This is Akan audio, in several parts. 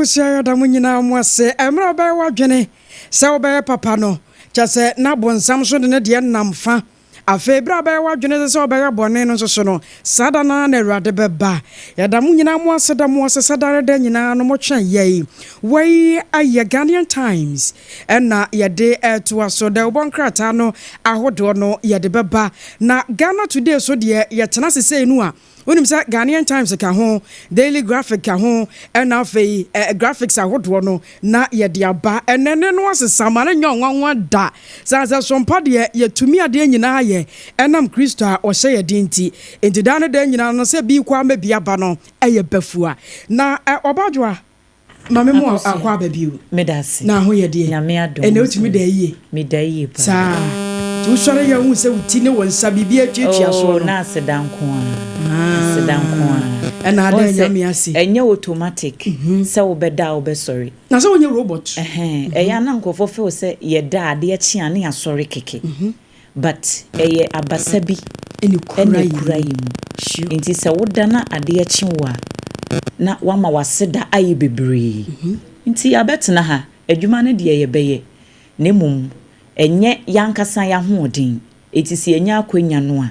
awusua yɛ ɔda mo nyinaa mo ase mmerɛ ɔbɛyɛ w'adwene sɛ wobɛyɛ papa no kyɛ sɛ na bonsam so de ne deɛ nam fa afei berɛ a ɔbɛyɛ w'adwene sɛ sɛ ɔbɛyɛ bɔne no nso so no saa da no ara na awurade bɛba yɛda mo nyinaa mo ase da mo ase sɛ dare da nyinaa no motwɛn yɛi wei ayɛ Ghanaian Times Ɛna yɛde retoa so. Dawubɔ nkrataa no ahodoɔ no yɛde bɛba. Na Ghana Today so deɛ yɛtena ase sei no a, wonim sɛ Ghanaian Times ka ho, Daily Graphic ka ho, ɛna afei eh, graphics ahodoɔ no na yɛde aba. Ɛnɛ ne no asesa ma no nyɛ ɔnwanwa da. Sane sɛ so mpa deɛ yɛtumi adeɛ nyinaa yɛ ɛnam Kristo a ɔhyɛ yɛ den nti. Nti daa ne daa nyinaa no sɛ bi kɔ ama bi aba no ɛyɛ bafua. Na eh, Ɔbadwoa Mame mo akɔ aba bio. Meda ase. Na ho yɛ deɛ. Nyame adom. Ɛnɛ wotumi da yie. Me da yie paa. Saa. Ti wosɔre yɛ hu sɛ wo ti ne wo nsa biribi atuatua soɔ no. Oh na aseda nko a. Aseda nko a. Ɛna ada nyame ase. Ɛnyɛ automatic sɛ wobɛda a wobɛsɔre. Na sɛ wonyɛ robot. Ɛhɛn ɛyɛ a na nkurɔfoɔ feel sɛ yɛda a adeɛ kye a ne yɛasɔre kɛkɛ. but ɛyɛ abasa bi ɛna ɛkura yɛ mu nti sɛ woda na adeɛ kye wo a na wama waseda ayɛ bebree nti yɛabɛtena ha adwuma no deɛ yɛbɛyɛ na mmom ɛnyɛ yɛankasa yɛahoɔden nti sɛ yɛnya akwanya no a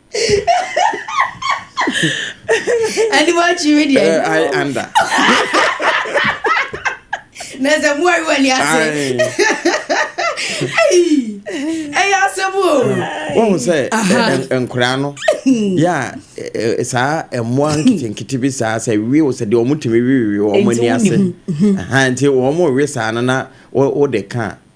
ɛne wakyiri deɛ ai anda na sɛ moari w'ani ase ɛyɛ asɛm o wohu sɛ nkoraa no yɛ a saa mmoa nketenkete bi saa sɛ wie wo sɛ deɛ ɔmotumi wewewe wɔn ani ase nti wɔn we saa no na wode ka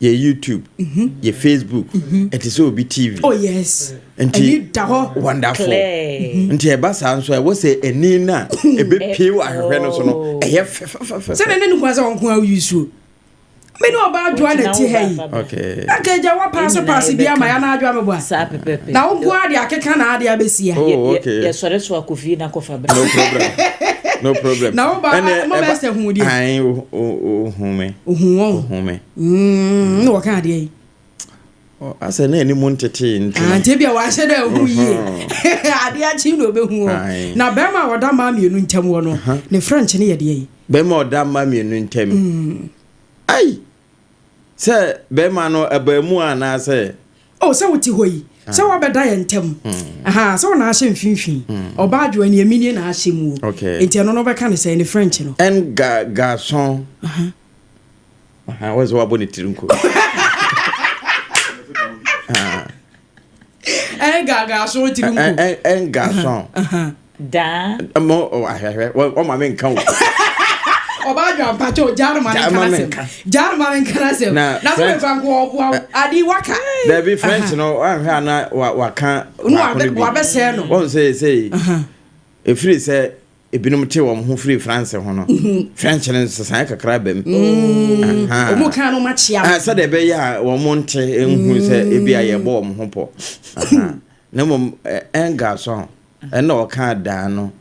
yɛ youtube mhm. yɛ facebook mhm. ɛte sɛ obi tv oh, nti wonderful mhm. nti ɛba saa nso ɛwɔ sɛ ani no a ɛbɛpie wɔ ahwehwɛ no so no oh. ɛyɛ fɛfɛfɛsɛdɛ ne nokora sɛ wɔnko a woyi suo me ne ɔba adwoa na ti ha yi anka agya wa paase paase bi ama yana adwoa meboa na wonko a de akeka na ade abɛsia oh, yɛsɔre so akɔfie na kɔfa bra no problem na woba mobɛsɛ hu deɛ hu me Ohun wɔn. Ohun me. Mm, na wɔka adeɛ yi. Asɛ na anim ntetee nti. Ah, nti bia wahyɛ dɛ ehu yie. Adeɛ akyi na obehu wɔn. Na bɛrima a ɔda mmaa mmienu ntam wɔ no, ne French no yɛ deɛ yi. Bɛrima a ɔda mmaa mmienu ntam. Mm. Ai! Sɛ bɛrima no abaamu anaasɛ Oh sɛ wote hɔ yi sɛ ah. wabɛda yɛn ntam hmm. aha sɛ wɔn ahyɛ mfinfin hmm. ɔbaa adwoa ni emi nie na ahyɛ mu o nti ɛno no bɛka ne sɛ ne french no. ɛn ga gason wɔn sɛ wabɔ ne tiri nko. ɛn ga gason tiri nko. ɛn gason. Daa. Mo oh, ahwɛhwɛ wɔma me nka o. Ɔba adwa mpakyɛ o gyaa no ma ne nka n'asɛm. Gyaa no ma ne nka n'asɛm. Na so me fa nko ɔboa wo. Ade waka. Dabi French no wanhwɛ ana waka baako no bi. Wabɛsɛɛ no. Wɔn sɛ sei. Ɛfiri sɛ ebinom te wɔn ho firi France ho no French no nsesaeɛ kakra bɛm ɔmo kan no makyia ah, sɛdeɛ ɛbɛyɛ a wɔn nte nhu sɛ ebi a yɛbɔ wɔn ho pɔ na mmom ɛnga so Ɛnna ɔkaa Dan no.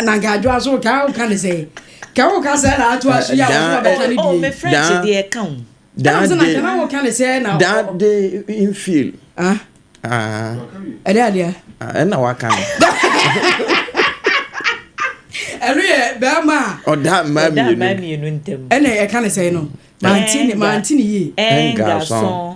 Na nka adwoa so ka a woka ne sɛn? Ka woka sɛɛ na atoa so yi a wɔso na bɛka ne die. Me French deɛ ɛka ho. Dan de. Ɛna na woka ne sɛɛ na. Dan de infield. Ah. Ɛdɛ adeɛ. Ɛna waka no. Ɛno yɛ bɛrima a. Ɔda mmaa mmienu. Ɔda mmaa mmienu ntɛm. Ɛna ɛka ne sɛn no. Manti ne manti ne yie. Ɛnga sɔn.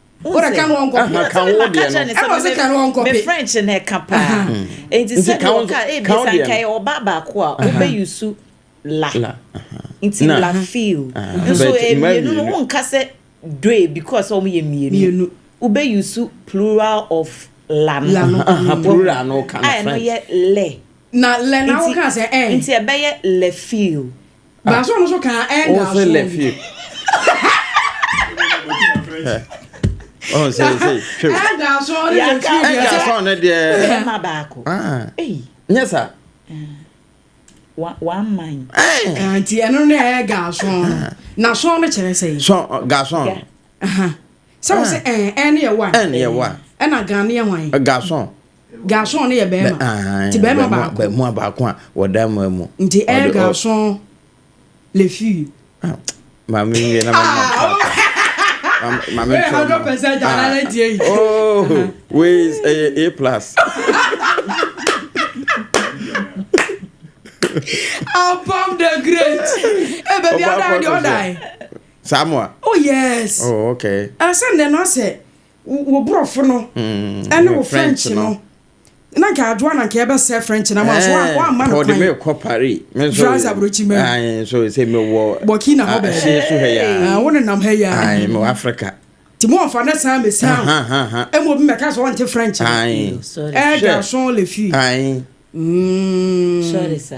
wode ka ho nkɔ aha ka wo deɛ no ɛna ɔsɛ ka ho nkɔ pe me french na ɛka paa nti sɛ deɛ ɔka ebi sa nka yɛ ɔba baako a wobɛ yusu la nti la feel nso mmienu no wo nka sɛ doe because wɔn yɛ mmienu wobɛ yusu plural of la no plural no ka no french a ɛno yɛ lɛ na lɛ na wo ka sɛ ɛn nti ɛbɛyɛ lɛ feel Baaso no so kan ɛnda so. Wofe le fi. Ɔn sɛ sɛ hwɛ. Ɛnda so ne le fi. Ɛnda so ne deɛ. Ɛma baako. Nyɛ sa. One man. Nti ɛno ne ɛyɛ gaasɔn no. Na sɔn no kyerɛ sɛ. Sɔn gaasɔn. Sɛ wo sɛ ɛn ɛn ne yɛ wa. Ɛn ne yɛ wa. Ɛna gan ne yɛ hwan. Gaasɔn. Garsɔn no yɛ bɛrima. Nti bɛrima baako. Bɛrima baako a wɔda mmaa mu. Nti ɛyɛ Garsɔn le fille. Ah, maame yɛ na mama papa. Maame tɔ. Hundred percent alala tie yi. Oh, wei ɛyɛ A plus. Abam the great. Ẹ bẹ bi ọdọ ayé ọdọ ayé. Samoa. Oh yes. Oh okay. Ẹsẹ̀ ndẹ̀ náà sẹ̀. Wo borɔfo no ne wo french no na nka adwoa na nka ɛbɛsɛ french na ma so eh, woamma no kwan me kɔ paris me nso france aburokyi mɛ ayi so sɛ me wɔ burkina hɔ bɛɛ ɛhyɛ so hɛ ya wo ne nam hɛ ya ayi me wɔ africa ti mo nfa ne san me san ɛmu obi mɛka sɛ ɔnte french ayi ɛɛ garçon le fille ayi sɔre sa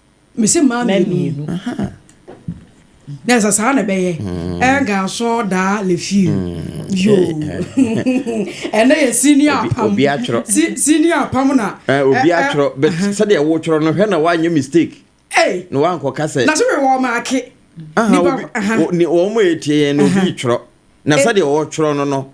Mese mmaa mmienu. Na ɛsɛ saa na ɛbɛyɛ. Ɛnka nso daa lefie. Yo. Ɛnɛ yɛ senior apam. Obi atwerɛ. Senior apam na. Obi atwerɛ. But sɛdeɛ wotwerɛ no hwɛ na woanyɛ mistake. Na woankɔka sɛ. Na so wɛ wɔ maake. Wɔn a ɛtie yɛn no obi twerɛ. Na sɛdeɛ wɔtwerɛ no no.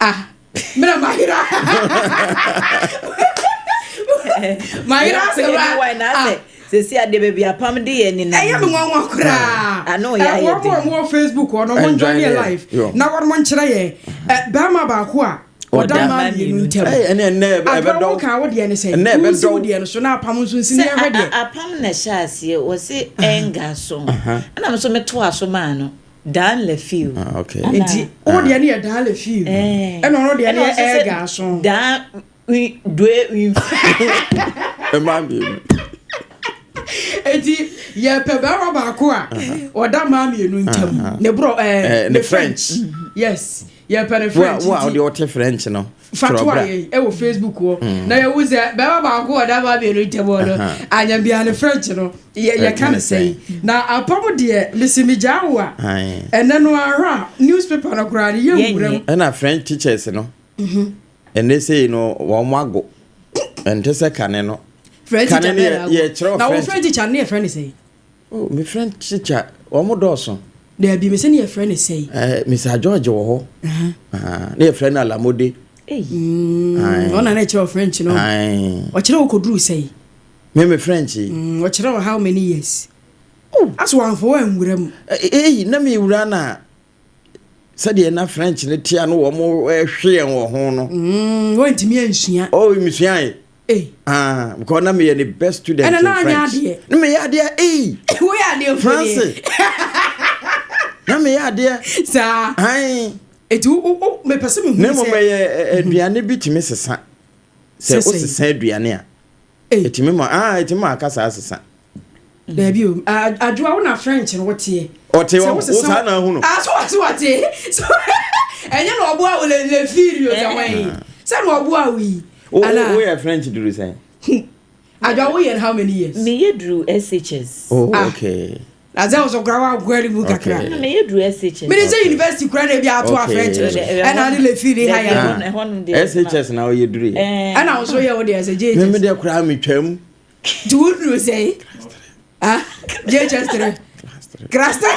ah mmerɛ mahera mahera asɛm a sɛsi adeɛ baabi apam de yɛ ne ɛyɛ me nwanwa koraa ano yɛ ayɛ den wɔn wɔ facebook wɔn wɔn njoin yɛ live na wɔn mo nkyerɛ yɛ bɛrima baako a ɔda mmaa mmienu ntɛm ɛnɛ ɛnɛ ɛbɛdɔw adɔw kan wo deɛ ne sɛ ɛnɛ ɛbɛdɔw wusi wo deɛ no so na apam nso nsi ne ɛhwɛ deɛ apam na ɛhyɛ aseɛ wɔsi ɛnga so ɛna mo nso me to aso maa no. Dan Lefew. Ah, okay. Ana- nti wo deɛ ne yɛ dan le fiw Ɛɛ. ɛna ɔno deɛ ne Ɛna yɛ ɔsɛ sɛ ɛɛga aso Dan wi- due wi- Ɛmaa mmienu. nti yɛpɛ bɛrima baako a ɔda mmaa mmienu ntam Uh-huh. ne borɔ ɛɛ, Eh, ne ne french yes yɛpɛ ne Wo a french wo a nti wode wote French no, fatoa yɛn ɛwɔ mm. facebook hɔ mm. na yɛwu sɛ bɛma baako wɔ dama mmienu ntɛm hɔ no anyambia no french no yɛka no sɛi na apam deɛ mese megyaa wo a ɛnɛ no ahɔ a newspaper no koraa no yɛwura mu ɛna french teachers no mhm. ɛnɛ sei no wɔn mo ago ɛnte sɛ kane no kane no yɛkyerɛ french na wo french teacher no yɛfrɛ no sɛi Oh, me friend Chicha, wɔn dɔɔso. Daabi, me sɛ ne yɛfrɛ no sɛe. Eh, Mr. George wɔ hɔ. Ah, ne yɛfrɛ no Alamode. Mm, ɔna na ɛkyerɛ wɔ French no. Ɔkyerɛ wɔ kɔduru sɛe. Me me French. Mm, ɔkyerɛ wɔ how many years? Oh. Aso wɔamfa wɔ anwura mu. Ei, na mewura no a. sɛdeɛ na french no tea no wɔn hwe yɛn wɔ ho no mm, wɔntumi ansua oh mesuae eh. ah, because na meyɛ ne best student in french na meyɛ adeɛ ei woyɛ adeɛ france na meyɛ adeɛ saa han ɛti mepɛ sɛ mehu na mmom ɛyɛ aduane bi tumi sesa sɛ wosesa aduane a Ei ɛtumi ma ah ɛtumi ma akasa asesa. Daabi o adwoa wo na French no woteɛ. Ɔte hɔ wo saa na ahunu. Ah so so ɔte so ɛnyɛ na ɔboa wo le le firi o yɛ wɔn yi sɛ na ɔboa wo yi. Wo wo yɛ French duru sɛn. Adwoa wo yɛ how many years. Me yɛ duru SHS. Oh okay. na sɛ ɔsɔ kora wankɔ ani mu kakra mene sɛ university kora na ebi ato afrɛ kyerɛ so ɛna ne lefi ne ha yɛ shs na ɔyɛ duru yɛ ɛna wo so yɛ wo deɛ sɛ jhs meme deɛ koraa metwam nti wo duru sɛ jhs tere class tere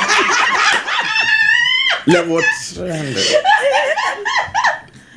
level 300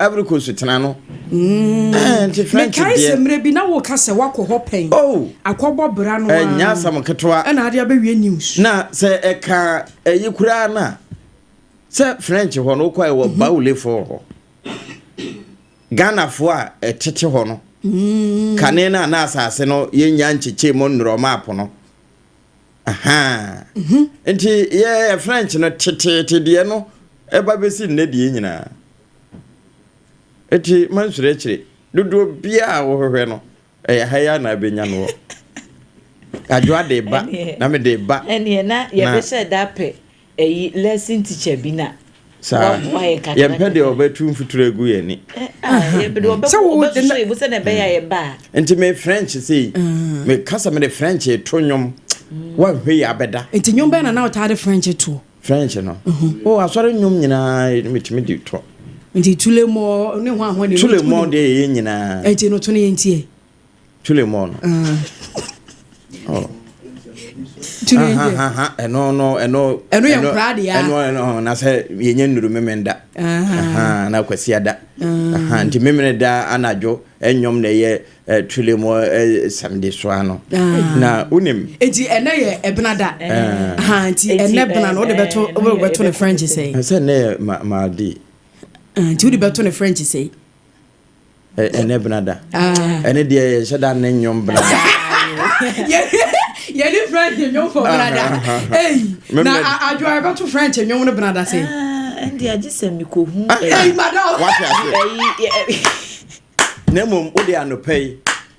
Ivory Coast so tena no. Mm. Eh, nti French deɛ. Mekae sɛ mmerɛ bi na woka sɛ woakɔ hɔ pɛn. Oh. Akɔbɔ bra no. Ɛnyɛ eh, asɛm ketewa. Ɛna ade abɛwie news. Na sɛ ɛka ɛyi koraa no a sɛ French hɔ no wokɔ ɛwɔ mhm. Baulefoɔ hɔ. Ghanafoɔ a ɛtete hɔ no. Mm. Kane no a na asase no yɛnya nkyekyɛ mu nnurɔma apo no. Nti yɛ French no teteete deɛ no ɛba bɛsi nnɛ deɛ nyinaa. Nti mansuro akyire. Dodoɔ biara a wohwehwɛ no ɛyɛ ha yi a na abɛnya no wɔ. Adwoa de ba na mede ba. Ɛneɛ na yɛbɛhyɛ da pɛ. Eyi lesson teacher bi na waboa yɛ kakra. Yɛmpɛ deɛ ɔbɛtu mfuturo agu yɛn ani. Sɛ wo de na ebo sɛ na ɛbɛyɛ yɛ ba. Nti me French sei. Mm. Me kasa me de French to nnwom. Mm. Wanhwɛ yi abɛda. Nti nnwom bɛn na na ɔtaa de French to? French no. Mm-hmm. Oh, asɔre nnwom nyinaa metumi de to. Nti tulemɔ ne ho ahoɔ ne. Tulemɔ deɛ yɛ nyinaa. Nti no to ne yɛn tiɛ. Chule mɔ no. Chule nje. Ɛno no ɛno. Ɛno yɛ nkura de ya. Ɛno ɛno na sɛ yɛ nye nuru mɛmɛ da. Na kwasi ada. Nti mɛmɛ da anadwo ɛnyɔm na ɛyɛ chule mɔ sɛmdi so ano. Na unim. Eti ɛnɛ yɛ ɛbena da. Nti ɛnɛ bena no ɔde bɛto ɔde bɛto ne French sɛ. Ɛsɛ ɛnɛ yɛ ma ma di. Nti ɔde bɛto ne French sɛ. ɛnɛ bena da ɛne deɛ yɛnhyɛ da ne nnwom bena da yɛne french nnwom fɔ bena da ei na adwoa yɛbɛto french nnwom no bena da sɛ ɛnde agye sɛ mekɔhu ei madam na mmom wode anɔpa yi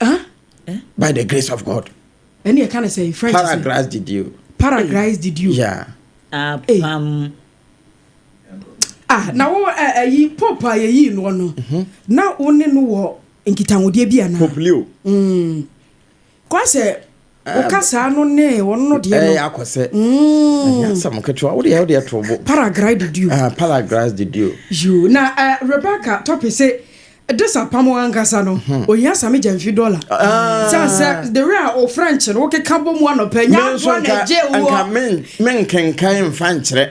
Ah, eh? By the grace of God. Ɛni ɛka ne sɛ French. Paragrace did you. Paragrace did you. Yeah. Apam. Hey. Ah, na wo ɛyi eh, eh, pope a yɛyii noɔ no mhm. na wo ne no wɔ nkitahodeɛ bi anaa pope leo mm. kora sɛ Wokasaa no ne wɔn no deɛ no. Ɛyɛ akɔ sɛ. Ɛnyɛ asɛm ketewa. Wo deɛ wo deɛ to bo. Paragrai de duo. Ah, paragrai de duo. Yoo, na eh, Rebecca topic se this apam ankasa no, hmm. ohia same gya mfi dollar. Ah. Sɛ sɛ the way a o French no wokeka bɔ mu anɔpɛ nya aboa na gye wo. Nka men men kenkan mfa nkyerɛ.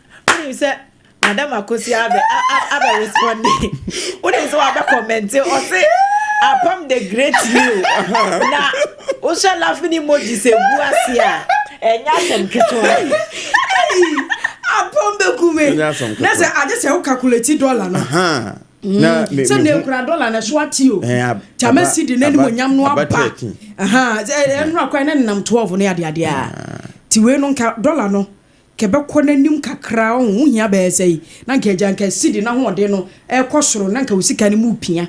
wonim sɛ madam akosi abɛ abɛ responde wonim sɛ wabɛ kɔmɛnte ɔse apam the great you na wohyɛ laughing emoji sɛ gu ase a ɛnyɛ asɛm ketewa apam bɛku me na sɛ agye sɛ wo calculate dollar no sɛ na ɛkura dɔla no so ate o tama si de n'anim onyam no aba ɛnora kwan ne nenam 12 no adeadeɛ a nti wei no nka dɔla no kɛbɛkɔ n'anim kakra ɔho wo hia bɛyɛ sɛi na nka agya nka sidi na hoɔden no ɛkɔ soro na nka wo sika no mu pia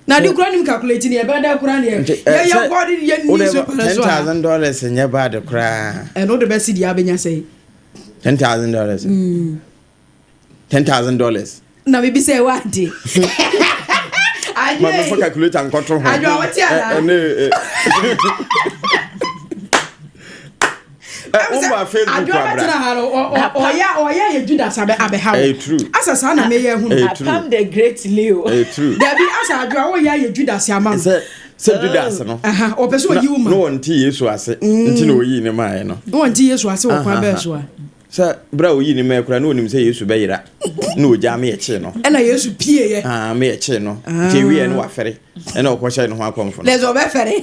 na de kura nim calculate ne ɛbɛda kura ne yɛyɛ god yɛ ni so pɛrɛ so a ten thousand dollars nyɛ bad koraa ɛno de bɛ sidi abɛnya sɛi ten thousand dollars mm. ten thousand dollars. na mi bi sɛ ɛwɔ adi. maame fɔ calculator nkɔtɔ ho adwa wɔte ana ɛne ɛ wɔn ba facebook adwa wɔte na ha no ɔyɛ ɔyɛ yɛ judas abɛ abɛ ha wo asa saa na mɛ yɛ hu no apam the great leo dabi asa adwa wɔyɛ yɛ judas ama no sɛ judas no ɔpɛ sɛ ɔyi wo ma na wɔn ti yesu ase nti na ɔyi ne maa yɛ no wɔn ti yesu ase wɔ kwan bɛɛ so a. Sɛ berɛ a ɔyii ne mɛɛ koraa, na ɔnim sɛ Yesu bɛyera, na ɔgyaa me ɛkyee no. Ɛna Yesu pieeɛ. Ah, me ɛkyee no. Nti ɛwieɛ no wafɛre, ɛna ɔkɔhyɛ ne ho akɔmfo no. Na sɛ ɔbɛfɛre.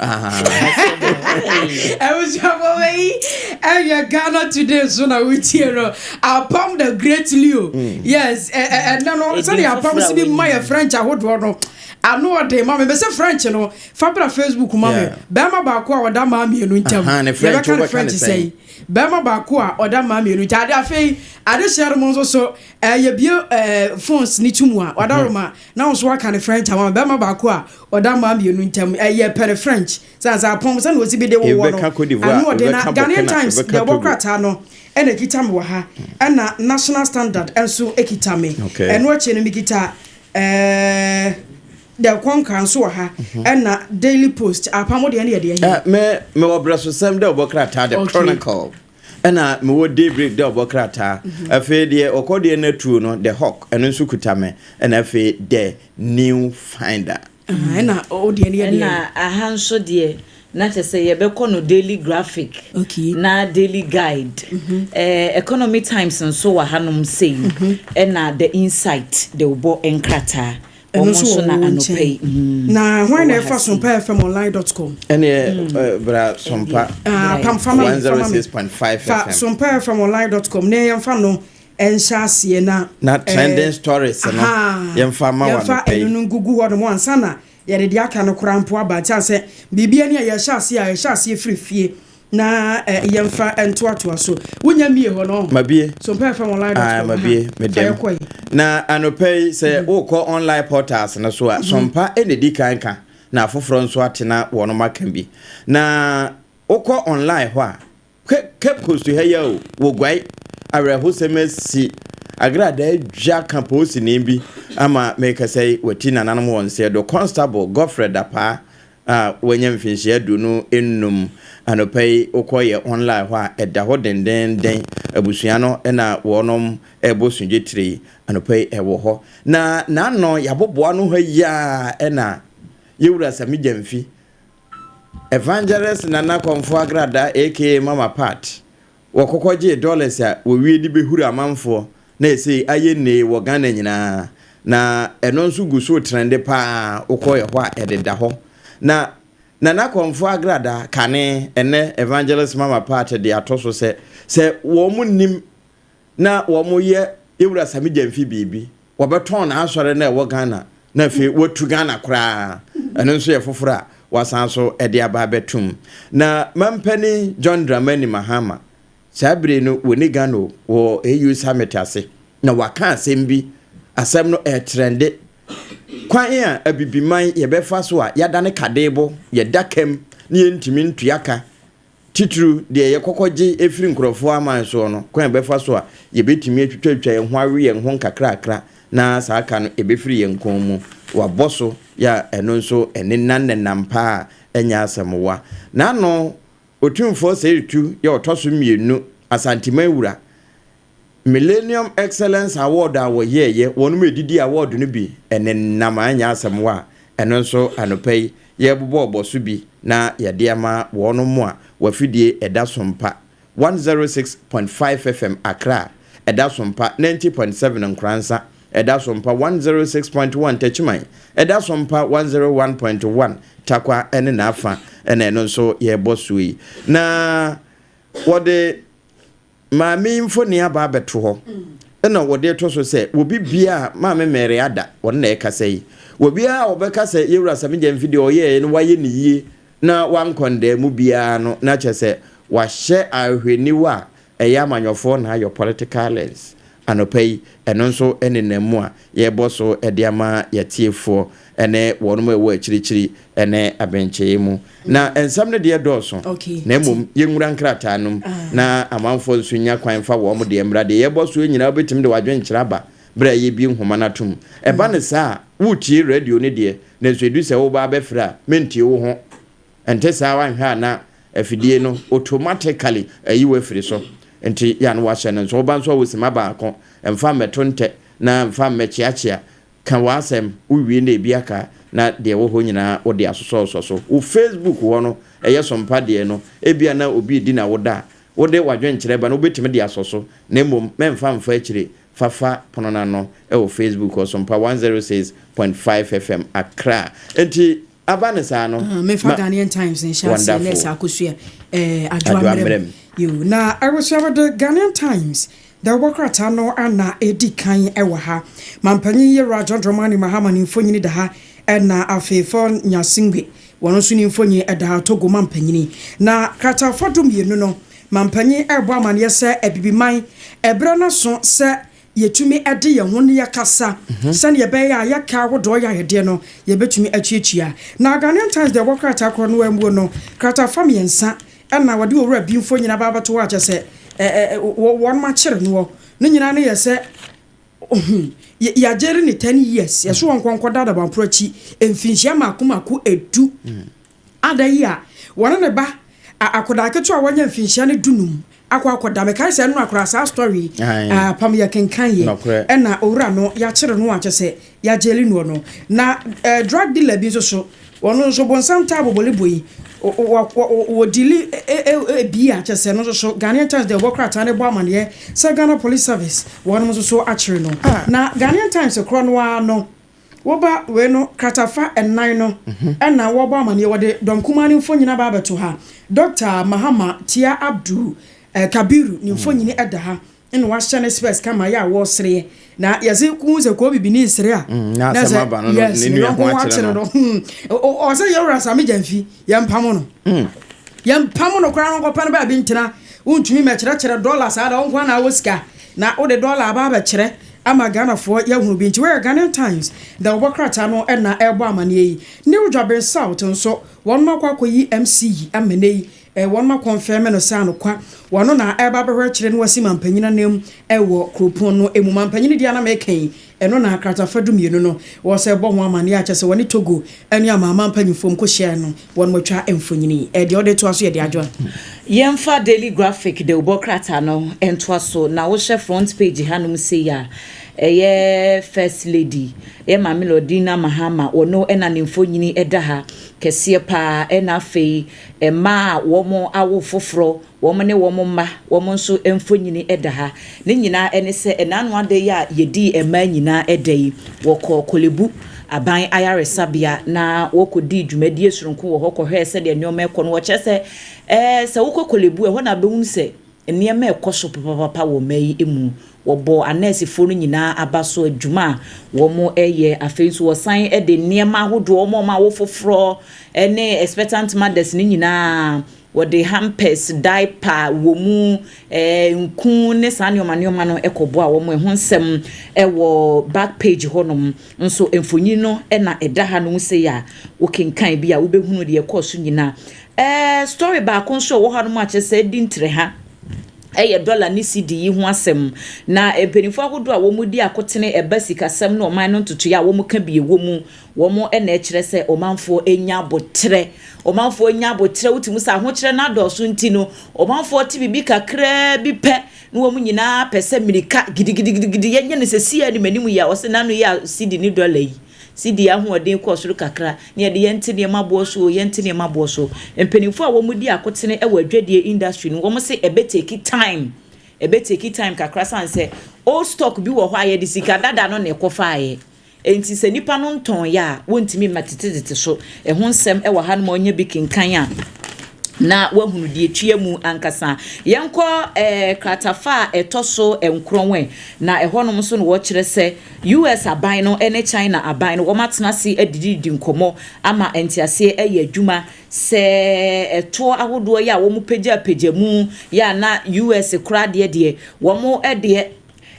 Ɛbusuafo wei ɛyɛ Ghana Today so na wotie no. Apam the great Leo. Mm. Yes, ɛnɛ no sɛdeɛ apam si bi ma yɛ French ahodoɔ no. ano ɔden ma me bɛsɛ french no fa bra facebook ma me bɛrima baako a ɔda maa mmienu ntam yɛbɛka ne french sɛn Barima baako a ɔda mmaa mmienu gya ade afei adehyeɛ no mo nso so eh, yɛbie eh, phones ne tumu a wada roma na wo nso waka ne French ama me barima baako a ɔda mmaa mmienu ntam eh, yɛpɛ ne French sɛ ansa apɔm sɛ na ɔsi bi de wowɔ no Ebɛka Cote d'Ivoire, ano ɔde na ebɛka Ghanaian Burkina, Times ebɛka deɛ ɛbɔ Togo. krataa no ɛna ɛkita me wɔ ha ɛna National Standard nso ɛkita me Okay. ɛno akyi no mekita eh, Dɛ kɔnkra nso wɔ ha ɛna daily post apam wo deɛ ne yɛ deɛ hɛn. Me me wɔ brɛsosɛm dɛ ɔbɔ krataa the chronicle ɛna me wɔ daybreak dɛ ɔbɔ krataa mhm. afei deɛ ɔkɔ deɛ na tuo no the hawk ɛno nso kuta me ɛna afei the new finder. Ɛna o deɛ ne yɛ deɛ. Ɛna aha nso deɛ na kyɛ sɛ yɛbɛkɔ no daily graphic okay. na daily guide mm -hmm. eh, economy times nso wɔ hanom sei mm -hmm. ɛna the insight de wobɔ nkrataa Ɛno nso wɔ wɔn nkyɛn. Na hwan na ɛfa Sompa FM online dot com? Ɛne mm. bra Sompa. Ah, pam fama mi fama mi. Fa Sompa FM online dot com na yɛn fa no ɛnhyɛ aseɛ na. Na trending stories no yɛn fa ma wɔn pɛ. Yɛn fa ɛnu no gugu hɔ nom ansa na yɛde de aka no koraa mpo aba nti asɛ biribi ani a yɛhyɛ aseɛ a yɛhyɛ aseɛ firi fie. Na yɛn mfa ntoa toa so. Wonya mmie hɔ no. Mabie. So mpɛ fam online dot com. Mabie. Medem. Fa yɛ kɔ yi. Na anɔpɛ yi sɛ mm-hmm. wokɔ online portals no so a mm-hmm. sompa ɛna di kan ka na afoforɔ nso ate na wɔn maka bi na wokɔ online hɔ a Cape Coast ha yi o wɔguae awerɛhosɛm asi agradaa dwa ka poosini bi ama mekasa yi wati nananom wɔn sɛ do constable Godfred Dapaa a wanya mfinhyia aduonu nnum, anɔpa yi wokɔ yɛ online hɔ a ɛda hɔ dendenden, abusua no na wɔnom ɛbɔ sudwe tire yi, anɔpa yi ɛwɔ hɔ, na n'ano yɛabobɔ ano ha yi ara ɛna Yɛwura Sami Gyamfi, Evangelist Nana Kɔmfoɔ Agrada aka Mama Pat, Wɔkɔkɔ gyee dollars a wɔwie de bɛhuri amanfoɔ na ɛsei ayɛ nnee wɔ Ghana nyinaa na ɛno nso gu so trɛnde pa ara wokɔ ɛhɔ a ɛdeda hɔ na Nana Kɔmfoɔ agradaa kane ɛnnɛ Evangelist Mama Pat de ato so sɛ sɛ wɔn nim na wɔn yɛ Yɛwura Same Gyamfi biribi Wɔbɛtɔn n'asɔre no a ɛwɔ Ghana na afei wɔatu Ghana koraa. Ɛno nso yɛ foforɔ a wɔasan nso de aba abɛtom. Na Mampanin John Dramani Mahama, saa bere no wɔnni Ghana o, wɔ AU Summit ase, na waka asɛm bi, asɛm no ɛretrɛnde, Kwan a Abibiman yɛbɛfa so a yɛadane kadebo, yɛda ka mu na yɛntumi ntua ka titiriw deɛ yɛkɔkɔ gye firi nkurɔfoɔ aman soɔ no, kwan a yɛbɛfa so a yɛbɛtumi atwitwatwitwa yɛn ho awe yɛn ho nkakrakra na saa ka no ɛbɛfiri yɛn kɔn mu. Wɔabɔ so yɛ a ɛno nso ɛne nna nnɛnnam pa a ɛnyɛ asɛmmoa. N'ano, Otumfoɔ Seitu yɛ ɔtɔ so mmienu Asanteman wura. Millennium Excellence Award a wɔyɛeɛ, wɔnom ɛdidi award no bi nenam a ɛnyɛ asɛm hɔ a, ɛno nso anɔpa yi yɛrebobɔ ɔbɔ so bi na yɛde ama wɔnom a w'afidie ɛda so mpa 106.5 FM Accra ɛda so mpa 90.7 Nkoransa ɛda so mpa 106.1 Techiman ɛda so mpa 101.1 Tarkwa ne n'afa na ɛno nso yɛrebɔ so yi na wɔde Maame yi mfoni aba abɛto hɔ na wɔde reto so sɛ obi bia a maame Mary Ada ɔno na ɛkasa yi. Obiara a ɔbɛka sɛ Yewura Sammy Gyamfi deɛ ɔyɛeɛ no wayɛ no yie na wankɔndɛɛ mu biara no na kyerɛ sɛ wahyɛ ahwɛniwa a ɛyɛ amanyɔfoɔ na ayɔ political lens Anɔpa yi, ɛno nso ne nam mu a yɛrebɔ so de ama yɛatiefoɔ ne wɔn a ɛwɔ akyirikyiri ne abenkyɛeɛ mu. Na nsɛm no deɛ dɔɔso, na mmom yɛnwura nkrataa nom na amanfoɔ nso nya kwan mfa wɔn deɛ mmra. Deɛ yɛrebɔ so yi nyinaa wobɛtumi de w'adwenkyerɛ aba berɛ a yɛrebue nwoma no atom. Ɛba no saa a, woretie radio no deɛ, nanso ɛdu sɛ woreba abɛfrɛ a, mentie wo ho. Ɛnte saa wanhwɛ a na afidie no automatically ayi wo afiri so nti ya no wahyɛ no nso woba nso a wo sima baako mfa mmɛto ntɛ na mfa mmɛkyeakyea ka w'asɛm wo wie na ebi aka na deɛ ɛwɔ hɔ nyinaa wo de asosɔsɔ so wo facebook hɔ no ɛyɛ sompa deɛ no ebia na obi redi na wo da a wo de w'adwenkyerɛ ba no wobɛtumi de asɔ so na mmom mɛmfa mfa akyire fafa pono no ano ɛwɔ facebook hɔ sompa 106.5 fm accra nti Aba no saa no ma wɔn da fo. Na abusua mede Ghanaian Times dawubɔ krataa no na edi kan wɔ ha. Mampanyin Yewura John Dramani Mahama ne mfonyin da ha na afei Fon Nyasingbe wɔn nso ne mfonyin da ha, Togo mampanyin. Na krataafo du mmienu no, mampanyin rebɔ amanneɛ sɛ Abibiman brɛ n'aso sɛ Yɛtumi de yɛn ho na yɛkasa sɛdeɛ ɛbɛyɛ a yɛka ahodoɔ yaredeɛ no yɛbɛtumi atuatua. Na Ghanaian Times deɛ ɛwɔ krataa korɔ no ara muo no, krataa fa mmiɛnsa na wɔde Owura Bi mfonin aba abɛto hɔ a kyerɛ sɛ wɔnom akyere noɔ. Ne nyinaa no yɛ sɛ yɛagyere no ten years, yɛso wɔnkɔ nkɔda Adabamporo akyi mfinhyia mmaako mmaako du. Ada yi a wɔne ne ba a akodaa ketewa a wanya mfinhyia no dunum akɔ akɔda. Mekae sɛ ɛno na koraa saa story yi apam yɛ kenkan yɛ. Ɛna owura no yɛakyere no a kyɛ sɛ yɛagyeli noɔ no. Na eh, drug dealer bi nso so, ɔno nso bonsam taa bobole boi. Wɔdili ebi a kyɛ sɛ no nso so Ghanaian Times deɛ ɔbɔ krataa no bɔ amaneɛ sɛ Ghana Police Service wɔnom nso so akyere no. Ah. Na Ghanaian Times korɔ no ara no, Woba wei no kratafa nnan no na wɔbɔ amaneɛ. Wɔde dɔm kumaa no mfonyini aba abɛto ha. Dɔkta Mahama Tia Abdul Kabiru ne mfonyini da ha. Ɛna wahyɛ ne spɛs kama yɛ a wɔresereɛ. Na yɛse wohu sɛ koo bibini resere a, na ɛsɛ yes ne yɔnko ho akyere no. Ɔsɛ Yawura Same Gyamfi, yɛmpamo no. Yɛmpamo no koraa na ɔnkɔpɛ no baabi ntena. Wontumi mmɛkyerɛkyerɛ dɔla saa da, wo nko ara na wɔ sika. Na wode dɔla aba abɛkyerɛ ama Ghanafoɔ yi ahunu bi nti woyɛ Ghanaian Times na wobɔ krataa no ɛnna ɛrebɔ amaneɛ yi. New Dwaben South nso wɔnom akɔ akɔyi MC yi ama ɛnnɛ yi wɔnom akɔnfɛme no sɛ anokwa wɔno na ɛreba abɛhwɛkyerɛ na wasi mampanyin anan mu wɔ kuropɔn no mu. Mampanyin deɛ a na meka yi Ɛno na kratafa dumienu no wɔsɛ bɔ ho amanneɛ a kyerɛ sɛ wɔne Togo ne Amanaman Mpanyimfoɔ nkɔhyiaeɛ no, wɔatwa mfonini. Deɛ ɔde toa so yɛ de Adjoa. Yɛmfa Daily Graphic dawubɔ krataa no ntoa so, na wohwɛ front page hanom sei a, ɛyɛ First Lady, yɛ Maame Lordina Mahama, ɔno na ne mfonini da ha kɛseɛ pa ara, ɛnna afei mmaa a wɔawo foforɔ Wɔn ne wɔn mma, wɔn nso mfonini da ha. Ne nyinaa ne sɛ, ɛnna ano ada yi a yɛdii mmaa nyinaa da yi, wɔkɔɔ Korle Bu Aban Ayaresabea na wɔkɔdii dwumadie sononko wɔ hɔ kɔhwɛɛ sɛdeɛ nneɛma rekɔ no. Wɔkyerɛ sɛ, ɛɛ, sɛ wokɔ Korle Bu a, ɛhɔ na wobɛhunu sɛ nneɛma rekɔ so papapapa wɔ mmaa yi mu. Wɔbɔɔ anɛɛsefoɔ no nyinaa aba so adwuma a wɔyɛ. Afei nso, wɔsan de nneɛma ahodoɔ ma wɔn a wɔfoforɔ ne expectant mothers no nyinaa. Wɔde hampers, diaper, wɔ mu, ɛɛ, nku ne saa nneɛma nneɛma no kɔboa wɔn. Ɛho nsɛm wɔ back page hɔnom. Nso mfonyin no na ɛda hanom sei a wokenkan bi a wobɛhunu deɛ ɛkɔɔ so nyinaa. Ɛɛ, story baako nso a ɛwɔ hanom a kyerɛ sɛ adi ntrɛha yɛ dɔla ne sidi yi ho asɛm. Na mpanimfoɔ ahodoɔ a wɔdi akotene ɛba sikasɛm ne ɔman no ntotoeɛ a wɔka bi wɔ mu Wɔn na ɛkyerɛ sɛ ɔmanfoɔ anya aboterɛ. Ɔmanfoɔ anya aboterɛ, wotumi hu sɛ ahokyerɛ no adɔɔso nti no, ɔmanfoɔ te biribi kakraa bi pɛ na wɔn nyinaa pɛ sɛ mmirika gidigidigidi, yɛnyɛ no sɛ siaa ni m'anim yi a, wɔse n'ano yɛ a sidi ne dɔla yi, sidi ahoɔden kɔɔ soro kakra, na yɛde yɛnte nneɛma boɔ so o, yɛnte nneɛma boɔ so. Mpanimfoɔ a wɔdi akotene wɔ adwadie industry no, wɔn se ɛbɛ take time, ɛbɛ take time kakra sane sɛ old stock bi wɔ hɔ a yɛde sika dada no na ɛkɔfaaeɛ, Enti sɛ nnipa no ntɔn yɛ a, wontumi mma tetetete so. Ɛho nsɛm wɔ ha no ma ɔnya bi kenkan a, na wahunu deɛ ɛtua mu ankasa. Yɛnkɔ eh, kratafa a ɛtɔ so nkorɔn ɛ, na ɛhɔnom nso na wɔkyerɛ sɛ US aban no ne China aban no wɔatena ase adididi nkɔmmɔ ama nteaseɛ ayɛ adwuma sɛ ɛtoɔ ahodoɔ yɛ a wɔpagyapagya mu yɛ a na US koraa deɛ deɛ wɔn deɛ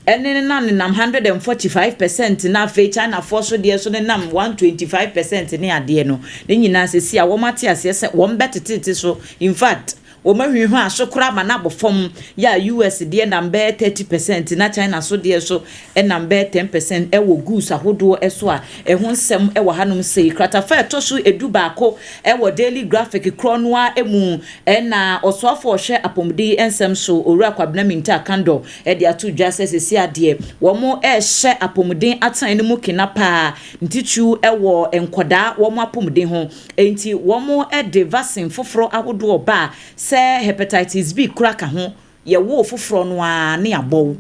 ɛne no na nenam hundred and forty five percent na afei Chinafoɔ so deɛ so nenam one twenty five percent ne adeɛ no, ne nyinaa sɛsi a wɔn ate aseɛ sɛ wɔn bɛ tetete so, in fact wɔn ahwinhwaa so koraa ma no abɔ fam, yɛ a US deɛ nam bɛyɛ thirty percent na China so deɛ so nam bɛyɛ ten percent wɔ goods ahodoɔ so a ɛho nsɛm wɔ hanom sei. Kratafa a ɛtɔ so edu baako wɔ Daily Graphic korɔ no ara mu na Ɔsoafoɔ a ɔhwɛ apɔmuden nsɛm so Owura Kwabena Mintah Kandor de ato dwa sɛ seesei adeɛ wɔrehyɛ apɔmuden atenae no mu kena paa ntitiriw wɔ nkwadaa wɔn apɔmuden ho enti wɔde vaccine foforɔ ahodoɔ ba a sɛ hepatitis B kura ka ho yɛwoo foforɔ no ara ne yɛabɔ wo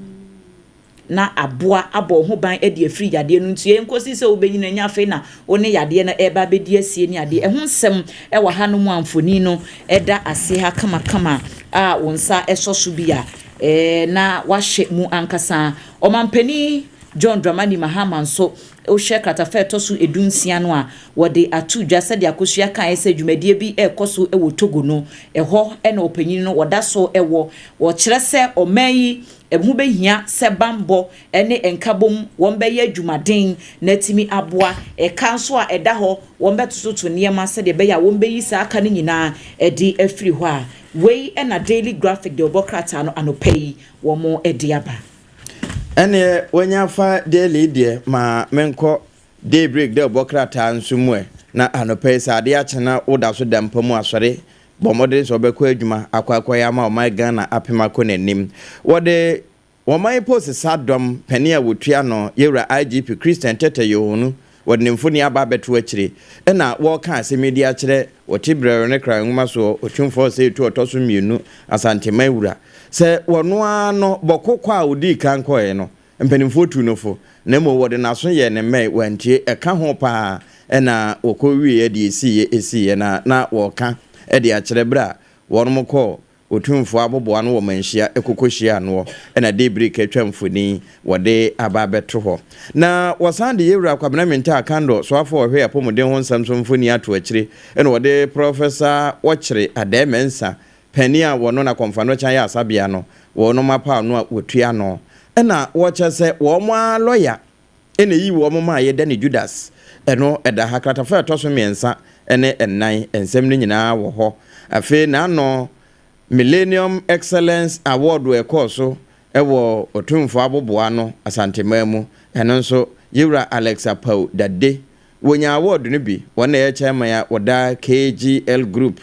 na aboa abɔ wo ho ban de afiri yadeɛ no nti ɛnkɔsi sɛ wobɛnyini ɛnyɛ afei na wo ne yadeɛ no ɛreba abɛdi asie ne adeɛ ɛho nsɛm wɔ ha no mu a mfoni no ɛda ase ha kamakama a wo nsa ɛsɔ so bi a na wahyɛ mu ankasa. Ɔmampanin John Dramani Mahama nso, wohwɛ kratafa a ɛtɔ so du nsia no a, wɔde ato dwa sɛdeɛ Akosua kaeɛ sɛ dwumadie bi rekɔ so wɔ Togo no, ɛhɔ na ɔpanyin no wɔda so wɔ. Wɔkyerɛ sɛ ɔman yi ho bɛhia sɛ bammɔ ne nkabom wɔbɛyɛ adwumaden na atumi aboa. Ɛka nso a ɛda hɔ wɔbɛtototo nneɛma sɛdeɛ ɛbɛyɛ a wɔbɛyi saa ka no nyinaa de afiri hɔ a. Wei na Daily Graphic de ɔbɔ krataa no anɔpa yi wɔde aba. Ɛneɛ wanya fa Daily deɛ ma menkɔ Daybreak de ɔbɔ krataa nso mu ɛ. Na anɔpa yi sɛ adeɛ akye na woda so da mpa mu asɔre bɔ mmɔden sɛ wobɛkɔ adwuma akɔ akɔyɛ ama ɔman Ghana apem akɔ n'anim. Wɔde Wɔman mpo sesa dɔm panin a wɔtua no yɛ wura IGP Christian Tetteh Yohonu wɔde ne mfoni aba abɛto akyire na wɔreka asɛm yi de akyerɛ wɔte brɛoo ne kra nwoma soɔ Otumfoɔ Osei Tuo ɔtɔ so mmienu Asanteman wura sɛ wɔno ara no bɔko kɔ a ɔdii kan kɔeɛ no mpanimfoɔ tuu no fo na mmom wɔde n'aso yɛɛ ne mmɛn wantie ɛka ho pa ara na wɔkɔ wieɛ deɛ ɛsiiɛ ɛsiiɛ na na wɔreka de akyerɛ berɛ a wɔnom kɔɔ Otumfoɔ aboboa no wɔ manhyia kokohyia ano hɔ na Deebrick atwa mfoni wɔ de aba abɛto hɔ. Na wɔsan de Yɛwura Kwabena Mintaa Kandor Soafo a ɔhwɛ Apɔmuden ho nsɛm so mfoni ato akyire na wɔde Prɔfɛsa Wɔkyere Aday Mensah, panin a wɔno na Kɔmfoa no kyan yɛ asabea no, wɔnom apaw no a wɔtua no na wɔkyɛ sɛ wɔn ara lɔya na eyi wɔn ma yɛda ne Judas no da ha. Kratafa a ɛtɔ so mmiɛnsa ne nnan, nsɛm no nyinaa wɔ hɔ. Afei n'ano, Millennium Excellence Award a ɛkɔɔ so wɔ Otumfoɔ aboboano, Asanteman mu, ɛno nso, Yewura Alex Apaw Dade, wɔnyaa award no bi, wɔn na ɛyɛ chairman a wɔda KGL Group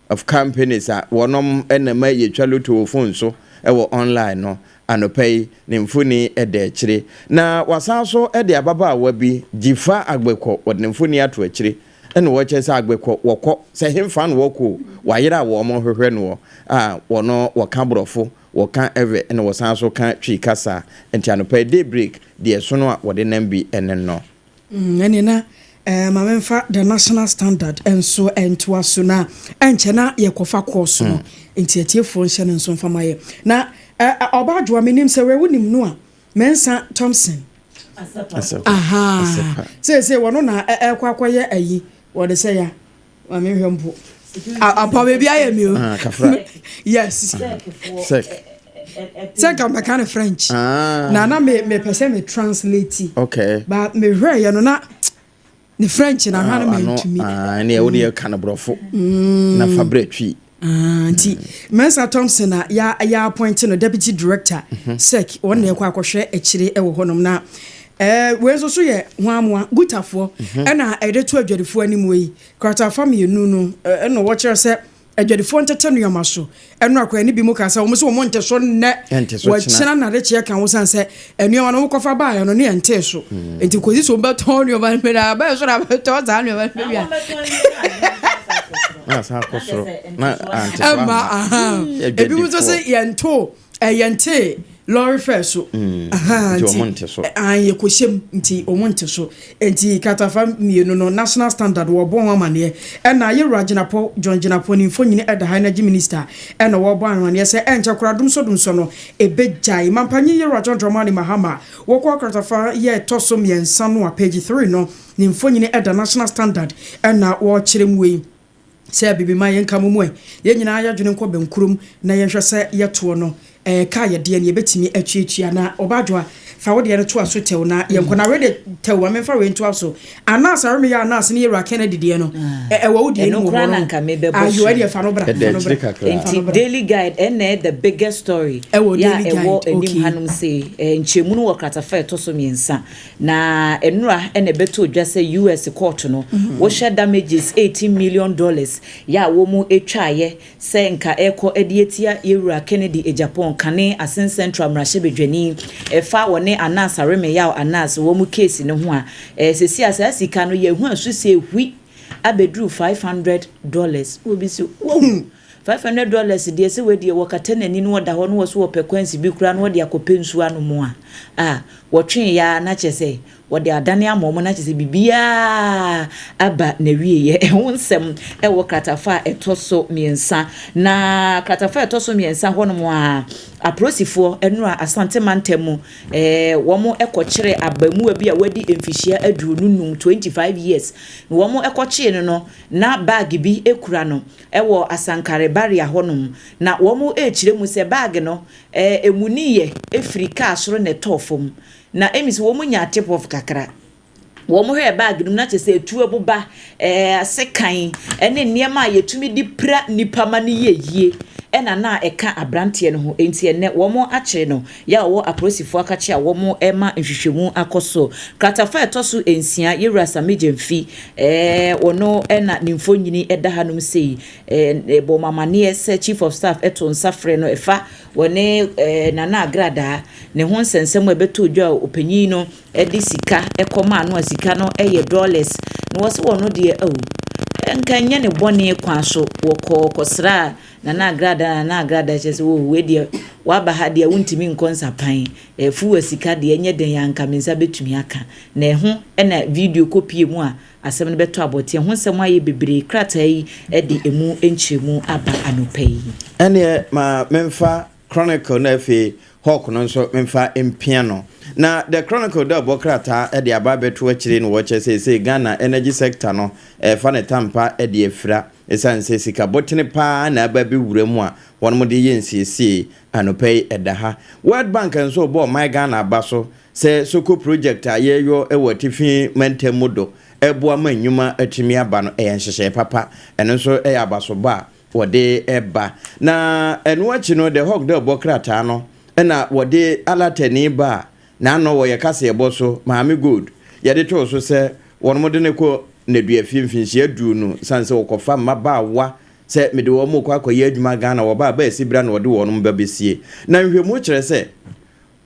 of companies a wɔnom na ɛma yɛtwa loto wɔ phone so wɔ online no anɔpa yi ne mfoni da akyire na wasan nso de ababaawa bi Jifa Agbekɔ wɔde ne mfoni ato akyire ɛna wɔkyɛ sɛ Agbekɔ wɔkɔ sɛ hemfa na wɔkɔ o wayere a wɔn hwehwɛ noɔ a wɔno wɔka borɔfo wɔka ɛvɛ ɛna wɔsan nso ka twi kasa nti anɔpa yi day break deɛ ɛsono a wɔde nam bi ɛne no. Mm, ɛne na eh, ma memfa the national standard nso ɛntoa so na ɛnkyɛ na yɛkɔfa kɔɔ so no mm. nti atiefoɔ nhyɛ no nso mfa ma yɛ na eh, eh, ɔba adwoa menim sɛ wɛwo nim no a mɛnsa thompson aha seesei wɔno na ɛkɔ akɔyɛ ayi wɔde sɛ ya Maame nhwɛ mpo. Apa baabi ayɛ mi o. Ah, kafra. Yes. Sek. Sek a mɛka no French. Ah. Na na me me pɛ sɛ me translate. Okay. Ba me hwɛ yɛ no na ne French na hwa no ah, mɛ ntumi. Ah, ɛnna ɛwɔ de yɛ ka no borɔfo. Mm. Na fa brɛ twi. Aah nti Mensah Thompson na ya ya appoint no Deputy Director sec wɔn na ɛkɔ akɔhwɛ akyire ɛwɔ hɔ nom na ɛɛ wei nso so yɛ hwanmoa Gutafoɔ ɛna ɛde to adwadifoɔ animuo yi kratafa mmienu no ɛna wɔ kyerɛ sɛ adwadifoɔ ntete nnoɔma so ɛno akwan ne bi mu kaa sɛ wɔn nso wɔn nte so nnɛ wɔ kyena na de kyeɛ ka ho sane sɛ nneɛma no wokɔfa baeɛ no ne ɛntee so nti kɔsi so wobɛtɔn nneɛma no mena bɛɛ so na bɛtɔn saa nneɛma no bɛwia ɛma aha ebi mu nso sɛ yɛnto yɛnte lɔre fɛ so nti yɛkɔhyɛm nti ɔmo nte so Enti katafa mmienu no national standard wɔɔbɔ ho amaneɛ ɛna yɛwura Gyinapɔn John Gyinapɔn ne mfonyini ɛda ha energy minister ɛna wɔɔbɔ anhweneɛ sɛ ɛnkyɛ koraa domsɔ domsɔ no ɛbɛgyae mampanyin yɛwura John Dramani Mahama wɔkɔɔ katafa yɛ ɛtɔ so mmiɛnsa no a page three no ne mfonyini ɛda national standard ɛna wɔɔkyerɛ mu wei Sɛ biribi ma yɛnka mo mu ɛ, yɛn nyinaa yɛdwene nkɔ bɛnkurom na yɛnhwɛ sɛ yɛtoɔ no ka yɛdeɛ no yɛbɛtumi atuatua na Ɔbaadwoa fa wodeɛ no toa so tɛw na yɛnkɔ na wei deɛ tɛw ma menfa wei ntoa so Anas a remeyɛ Anas ne Yɛwura Kennedy deɛ no ɛwɔ wo deɛ no mu hɔ no ayo ɛdeɛ fa no bra fa no bra Nti Daily Guide ɛnna ɛ the biggest story yɛ a ɛwɔ anim hanom sei nkyerɛmu no wɔ kratafa a ɛtɔ so mmiɛnsa Na nnora na ɛbɛtoo dwa sɛ US kɔɔto no wohyɛ damages eighteen million dollars yɛ a wɔn ɛtwaaeɛ sɛ nka ɛrekɔ ɛde atia Yɛwura Kennedy Agyapong kane Asin Central mmarahyɛbadwani ɛfa wɔne Anas Aremeyaw Anas wɔn case no ho a ɛɛ seesei a saa sika no yɛahua so sɛ ɛhui abɛduru five hundred dollars. Obi se wahunu Five hundred dollars deɛ sɛ wei deɛ wɔkata n'ani na ɔda hɔ na ɔse ɔpɛ coins bi koraa na ɔde akɔpɛ nsuo anom a, ah, wɔtwee yɛ ara na kyerɛ sɛ wɔde adane ama wɔn na kyerɛ sɛ biribiara aba n'awieɛ. Ɛho nsɛm wɔ kratafa a ɛtɔ so mmiɛnsa na kratafa a ɛtɔ so mmiɛnsa hɔnom a aprosifoɔ nnora Asante mantam mu eh, wɔn kɔkyere abamua bi a wadi mfihyia aduonu num, 25 years, na wɔn kɔkyee no no na bag bi kura no Ɛwɔ Asankare Barrier hɔnom na wɔn rekyerɛ mu sɛ bag no emuniiɛ efiri car soro na ɛtɔɔ fam. Na emis wɔn nyaa tip off kakra. Wɔn hwɛɛ bag no mu na kyerɛ sɛ etuo boba, sekan ɛne nneɛma a yɛtumi de pira nnipa ma no yɛ yie ɛna na ɛka abranteɛ no ho. Enti ɛnɛ wɔn akyere no. Yɛ a ɔwɔ apolisifo akakye a wɔrema nhwehwɛmu akɔ so. Kratafa a ɛtɔ so nsia, Yewura Asame Gyamfi, eh, ɔno na ne mfonini da hanom sei, eh, bɔ mo amanneɛ sɛ Chief of Staff to nsa frɛ no, ɛfa wɔne eh, Nana Agradaa ne ho nsɛnsɛm a ɛbɛtɔ dwa a ɔpanyin no de sika kɔ maa no a sika no yɛ dollars na wɔse wɔno deɛ, oh, nka nyɛ ne bɔne kwan so wɔkɔɔ kɔsraa Nana Agrada Nana Agrada kyerɛ sɛ oh wei deɛ waba ha deɛ wontumi nkɔ nsapan eh, fuwa sika deɛ ɛnyɛ den a nka me nsa bɛtumi aka na ɛho na video kɔpie mu a asɛm no bɛtɔ abɔte ɛho nsɛm ayɛ bebree krataa yi de ɛmu nkyerɛmu aba anɔpa yi. Ɛneɛ ma memfa Chronicle na afei Hawk no nso memfa mpia no. Na The Chronicle da bɔ krataa de aba abɛto akyire no wɔ kyɛ seesei Ghana energy sector no ɛfa ne tampa de afira. Esiane sɛ sika botene paa na aba bi wura mu a wɔnom de yɛ nsiesiei, anɔpa yi ɛda ha. World Bank nso rebɔ ɔman Ghana aba so sɛ Soko project a yɛreyɔ wɔ atifi mantam mu do reboa ma nnwuma atumi aba no ɛyɛ nhyehyɛe papa. Ɛno nso ɛyɛ abasobɔ a wɔde ba. Na ɛno akyi no The Hawk de ɔbɔ krataa no na wɔde Alatani baa Na ano wɔ yɛ kaseɛ bɔ so maame gold yɛde too so sɛ wɔnom de no kɔ nneduafie mfinhyia aduru no sane sɛ wɔkɔfa mmabaawa sɛ mede wɔnom rekɔ akɔyɛ adwuma Ghana wɔba a baasi bra na wɔde wɔnom ba bɛsie na nhwɛmu kyerɛ sɛ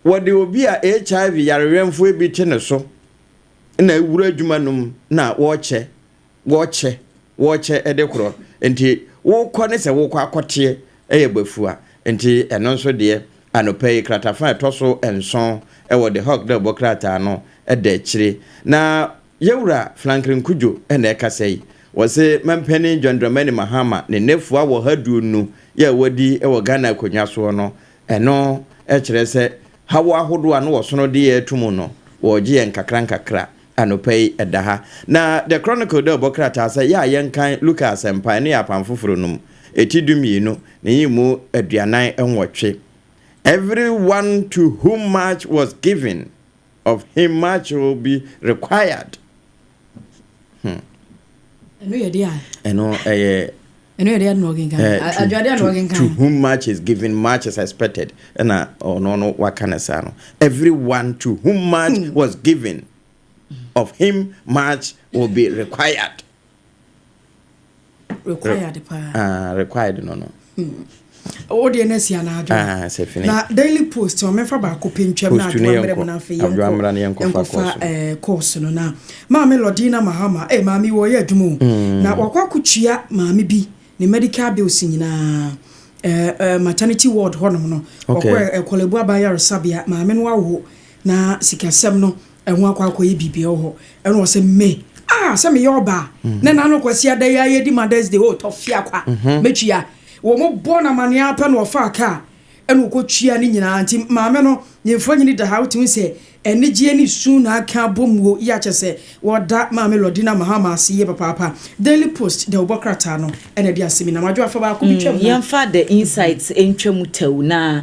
wɔde obi a HIV yarewɛnfoɔ bi te ne so na awura adwuma no mu na wɔrekyɛ wɔkyɛ wɔkyɛ de korɔ nti wokɔ ne sɛ wokɔ akɔteɛ ɛyɛ bafua nti ɛno nso deɛ anɔpa yi kratafa ɛtɔ so nson ɛwɔ The Hawk dɛ ɔbɔ krataa no ɛda akyire na yɛwura Flankrin Kudjo ɛna ɛkasa yi wɔse Mampanin John Dramani Mahama ne nɛfua wɔha duonu yɛ a wɔdi ɛwɔ Ghana akonwa soɔ no ɛno ɛkyerɛ sɛ haw ahodoɔ a no wɔsono de yɛ ato mu no wɔɔgye yɛn nkakra nkakra Anɔpa yi ɛda ha. Na The Chronicle dɛ ɔbɔ krataa sɛ, Yɛ a yɛnkan Luka Asɛmpae no yɛ Apam Foforo no mu, eti dummienu, ne nyɛmu aduanan nwɔtwe. Every one to whom much was given, of him much will be required. Hmm. Ɛno yɛ deɛ a. Ɛno ɛyɛ ɛno yɛ deɛ na ɔkenkan eh, adwade na ɔkenkan to whom much is given much is expected ɛna ɔno no waka ne saa no everyone to whom much hmm. was given of him much will be required required paa ah required no no hmm. Wo deɛ na si anadwo. Ah, sɛ fini. Na Daily Post wɔn mɛfa baako pɛ ntwam na adwoa mmerɛ mu na afei yɛn kɔ nkɔfa kɔɔso no na maame Lodina Mahama eh maame wɔ yɛ adwuma o mm. na wakɔ akotua maame bi ne medical bills nyinaa eh, eh, maternity ward hɔnom no ɔkɔ okay. ɛkɔlɛbu eh, aban yaresabea maame no awo na sikasɛm no Ɛho akɔ akɔyɛ biribiara wɔ hɔ. Ɛna ɔsɛ me. Ah, sɛ meyɛ ɔbaa. Mm. Ne nano kwasi ada yi ayɛ di Mother's Day, oh, tɔfia kwa. Mm-hmm. Metwia. Wɔn bɔ na maneɛ apɛ na ɔfa kaa. Ɛna ɔkɔ twia ne nyinaa. Nti maame no, ne mfonyini da ha, wotumi sɛ anigyeɛ ne su na aka abɔ mu o, yi akyɛ sɛ wɔda maame Lordina Mahama ase yie papaapa. Daily Post, dawubɔ krataa no, ɛna ɛde asɛm yi nam. Adwoa fa baako bi mm, twam na. Yɛmfa The Insights ntwa mu tɛw na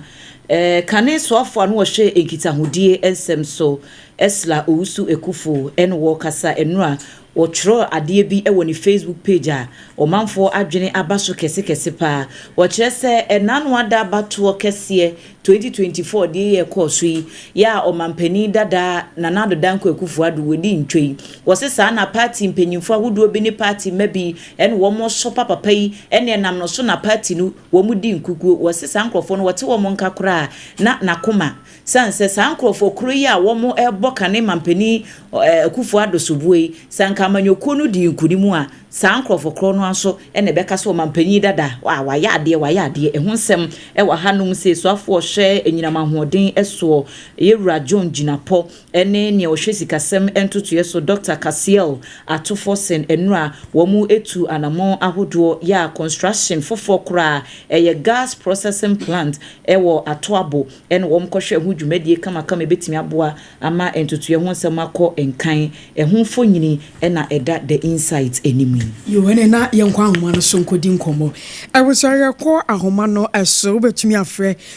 Eh, kane soafoɔ a na ɔhwɛ nkitahodie nsɛm so, Esla Owusu Ekufo, ɛna ɔrekasa nnora a ɔtwerɛɛ adeɛ bi wɔ ne Facebook page a ɔmanfoɔ adwene aba so kɛse kɛse paa. Ɔkyerɛ sɛ ɛnaano ada abatoɔ kɛseɛ 2024 deɛ yɛ ɛkɔɔ so yi yɛ a ɔmanpanin dada Nana Addo Dankwa Akufo Addo wɔdi ntwa yi. Ɔse saa na party mpanyimfoɔ ahodoɔ bi ne party mma bi ɛna wɔn resɔ pa papa yi ɛna ɛnam no so na party no Wɔdi nkukuo. Wɔ se saa nkurɔfoɔ no wɔte wɔn nka koraa na n'akoma sane sɛ saa nkurɔfoɔ koro yi a wɔn rebɔ kane ma mpanin Akuffo Addo soboɔ yi sɛ anka amanyɔkuo no dii nkunim a saa nkurɔfoɔ korɔ no ara nso na ɛbɛka sɛ ɔmanpanin dada a wayɛ adeɛ wayɛ adeɛ ɛho nsɛm wɔ ha nom sɛ suafoɔ hwɛ anyinam ahoɔden soɔ yɛwura John Gyinapɔ ɛne nea ɔhwɛ sikasɛm ntotoeɛ so Dɔkta Cassiel Atufor Sen Anura wɔn atu anamɔn ahodoɔ yɛ a construction foforɔ koraa ɛyɛ gas processing plant wɔ Atoabo ɛna wɔn kɔhwɛ ho dwumadie kamakama ɛbɛtumi aboa ama ntotoeɛ ho nsɛm akɔ nkan ɛho mfonyini na ɛda The Insight anim yi. Yoo ɛne na yɛnkɔ ahoma no so nkɔdi nkɔmmɔ. Awusaeɛ kɔ ahoma no so, wobɛtumi afrɛ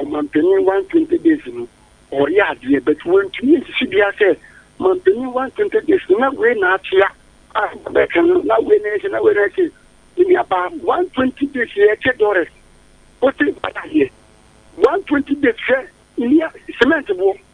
Ɔmanpanin One Twenty Days no, wɔreyɛ adeɛ but wɔntumi ansisi biara sɛ manpanin One Twenty Days no na wei na akyea a bɛka no na wei na ɛsɛ na wei na ɛsɛ ne nuabaa One Twenty Days yɛ ɛkyɛ Doris wote baayɛ One Twenty Days hwɛ nia cement boɔ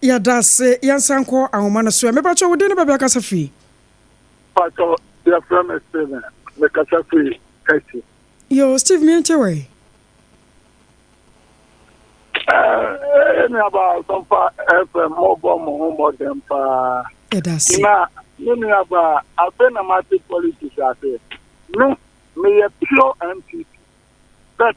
Yɛda ase, yɛnsan nkɔ anwoma no so ɛ. Mepakyɛw, wo din ne baabi a wokasa fi? Pakyɛw, yɛfrɛ me Steven, mekasa fi Turkey. Yoo, Steve, me nkyɛ wai? Ɛɛ, nuabaa Asɔmpa FM, mobɔ mo ho mmɔden paa. Yɛda ase. Na, me nuabaa, afei na mate politics ase. Me, meyɛ pure NPP. But,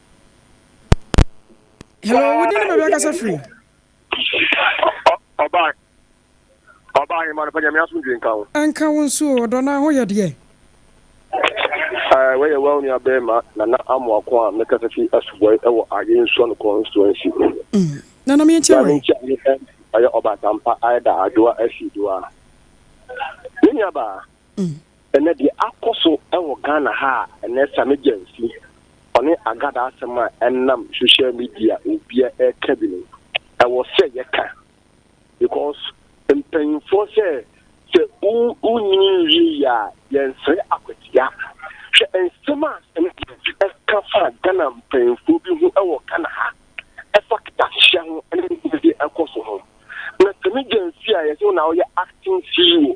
hello wode ne baabi akasa firi ɔbaa ɔbaa hema no pɛ nyame asomdwe nka wo ɛnka wo nso ɔdɔ no ho yɛ deɛ wɔyɛ wa onua bɛrima nana amoako a mekasa fi asubɔe wɔ ayɛ nsuo no constituency mm. nana meɛkyɛ wɔ ɛyɛ ɔbatampa ayɛ da adwoa asidoa ne nuabaa mm. Ɛnɛ deɛ akɔso wɔ Ghana ha a ɛnɛ Sammy Gyamfi ɔne Agada asɛm a ɛnam social media obia ɛka bi no ɛwɔ sɛ yɛka because mpanyinfoɔ sɛ sɛ wonyini nwie yi a yɛnsrɛ akwatia hwɛ nsɛm a Sammy Gyamfi ɛka fa Ghana mpanyinfoɔ bi ho ɛwɔ Ghana ha ɛfa ketasehyɛ ho ɛne ɛkɔ so ho na Sammy Gyamfi a yɛsɛ na ɔyɛ acting CEO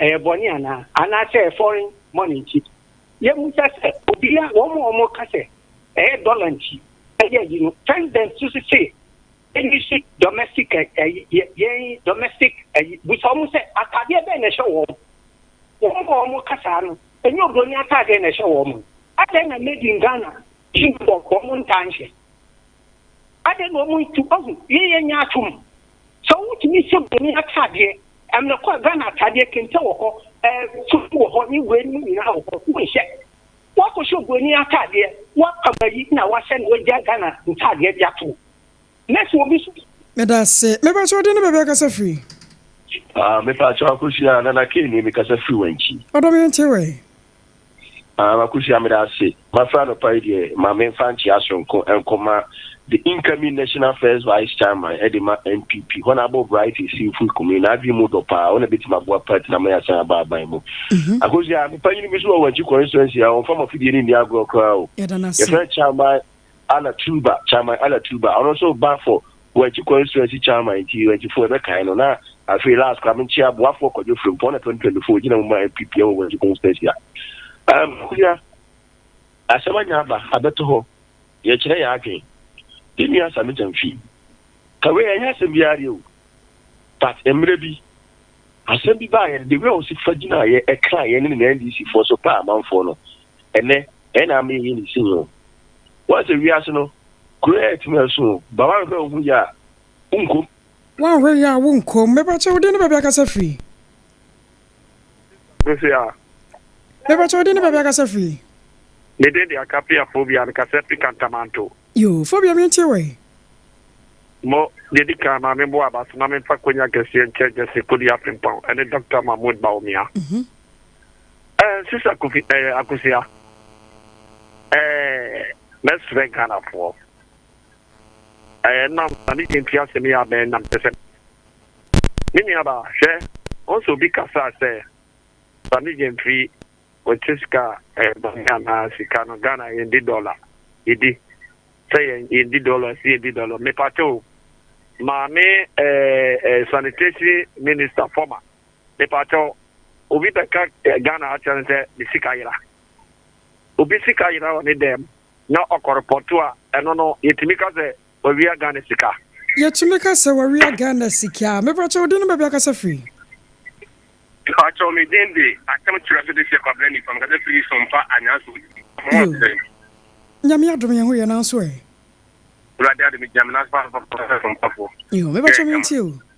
ɛyɛ bɔne anaa? Anaasɛ foreign money nti? Yɛmmisa sɛ, obiara, wɔn a wɔka sɛ ɛyɛ dɔla nti ɛyɛ ayi no, President nso se se yɛnyi so domestic ayi, yɛn domestic ayi, bisa wɔn sɛ ataadeɛ bɛn na ɛhyɛ wɔn? Wɔn a wɔka saa no, ɛnyɛ obroni ataadeɛ na ɛhyɛ wɔn? Adɛn na made in Ghana uniform wɔn ntaa nhyɛ? Adɛn na wɔntu? Ahu, yei yɛ nyaatwom. Sɛ wotumi hyɛ Buroni ataadeɛ, ɛmmerɛ kɔ a Ghana ataadeɛ, kente wɔ hɔ, ɛɛ fufu wɔ hɔ ne wei nom nyinaa wɔ hɔ, wonhyɛ. Woakɔhyɛ Buroni ataadeɛ, woapam ayi na woahyɛ na woagya Ghana ntaadeɛ de ato wo. Mercy, obi so. Meda ase. Mepakyɛ wo de ne baabi akasa firi? Ah, mepakyɛ wo Akosua, Nana Kay nie, mekasa firi Wankyi. Ɔdɔ me nte wɛn? Aah Akosua meda ase. Mafrɛ anɔpa yi deɛ ma menfa nkyea soronko nkɔma the incoming national first vice chairman de ma NPP, Honourable Bright Asiimfui Kuming, n'adwene mu dɔ paa, ɔna bɛtumi aboa party no ama yɛasan aba aban mu. Akosua, me panyini bi nso wɔ Wankyi constituency ha, ɔmfa m'afidie no nni agorɔ koraa o, yɛfrɛ no Chairman Anna Tuba, Chairman Anna Tuba, ɔno nso ba for Wenchi constituency chairman nti Wenchifo ɛbɛkae no, na afei last koraa me nkyea boafoɔ Kwadwo Frimpong na 2024 ɔgyina mu maa NPP wɔ Wenchi constituency a ɛm Akua asɛm anya aba abɛto hɔ yɛkyerɛ yɛn adwen yɛn nua Sammy Gyamfi ka wei ɛnyɛ asɛm biara deɛ o but mmerɛ bi asɛm bi baa yɛn the way ɔsi fa gyinaa yɛ ɛkaa yɛn ne ne NDC foɔ so paa amanfoɔ no ɛnnɛ ɛyɛ na ama yɛyɛ ne sin o. Woahu sɛ wiase no, kuro yɛ tumi a ɛso o, ba woanhwɛ wo ho yie a, wonkom. Woanhwɛ yie a, wonkom. Mepakyɛ, wo din ne baabi a akasa firi? Mese a. Mepakyɛ, wo din ne baabi a akasa firi? Me din de Akapia Phobia, mekasa firi Kantamanto. Yoo, Phobia mentie wo ɛ. Mo, deɛ di kan, Maame Boabas, na memfa Konya Kɛseɛ nkyɛ Gyasi Kodua Frimpong ɛne Dɔkta Mahmoud Bawumia. Eh, Sister Kofi, eh, Akosia, eh, mɛsrɛ Ghanafoɔ, eh, nam na ne yɛnti asɛm yi abɛn nam kyɛ sɛ, me nuaba, hwɛ, wɔn sɛ obi kasa sɛ, sa ne yɛnti wɔte sika, eh, bɔne anaa sika no, Ghana yɛndi dɔla, yɛdi, sɛ yɛn, yɛndi dɔla, sɛ yɛdi dɔla, mepatɛ o, maame, eh, eh, sanitation minister, former, Mepakyɛw, obi bɛka Ghana ha akyerɛ no sɛ ne sika yera. Obi sika yera wɔ ne dan mu na ɔkɔ repɔto a, ɛno no, yɛtumi ka sɛ wawia Ghana sika? Yɛtumi ka sɛ wawia Ghana sika. Mepakyɛw, wo din ne baabi a woakasa firi? Mepakyɛw, me din de Atem Kyerɛso Dehyeɛ Kwabena Nifa. Mekasa firi Sompa, Anyanso West. Mo ho te sɛn? Nyame adom, yɛn ho ye, nanso ɛ? Awurade adom, megyina me nan so paa, Sompa, Sompa foɔ. Yoo, mepakyɛw, mentie o.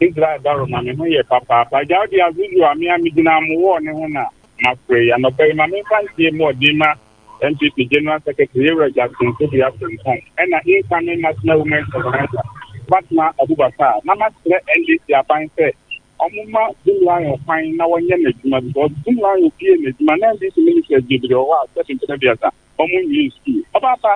Israel daro ma me ho yɛ papaapa. Agya, wode as usual me a megyina mo wɔɔ no ho na mafrɛ yi. Anɔpa yi, ma memfa nteɛ mu ɔden ma NPP General Secretary Yewura Jackson Tobia Frimpong ɛna Incoming National Women's Organizer Fatma Abubakar na masrɛ NDC aban sɛ wɔmma Jim Lyon kwan na wɔnyɛ n'adwuma because Jim Lyon pie n'adwuma na NDC Ministers bebree wɔ hɔ a sɛbi mpɛn abiɛsa wɔnwie sukuu. Ɔbaapa!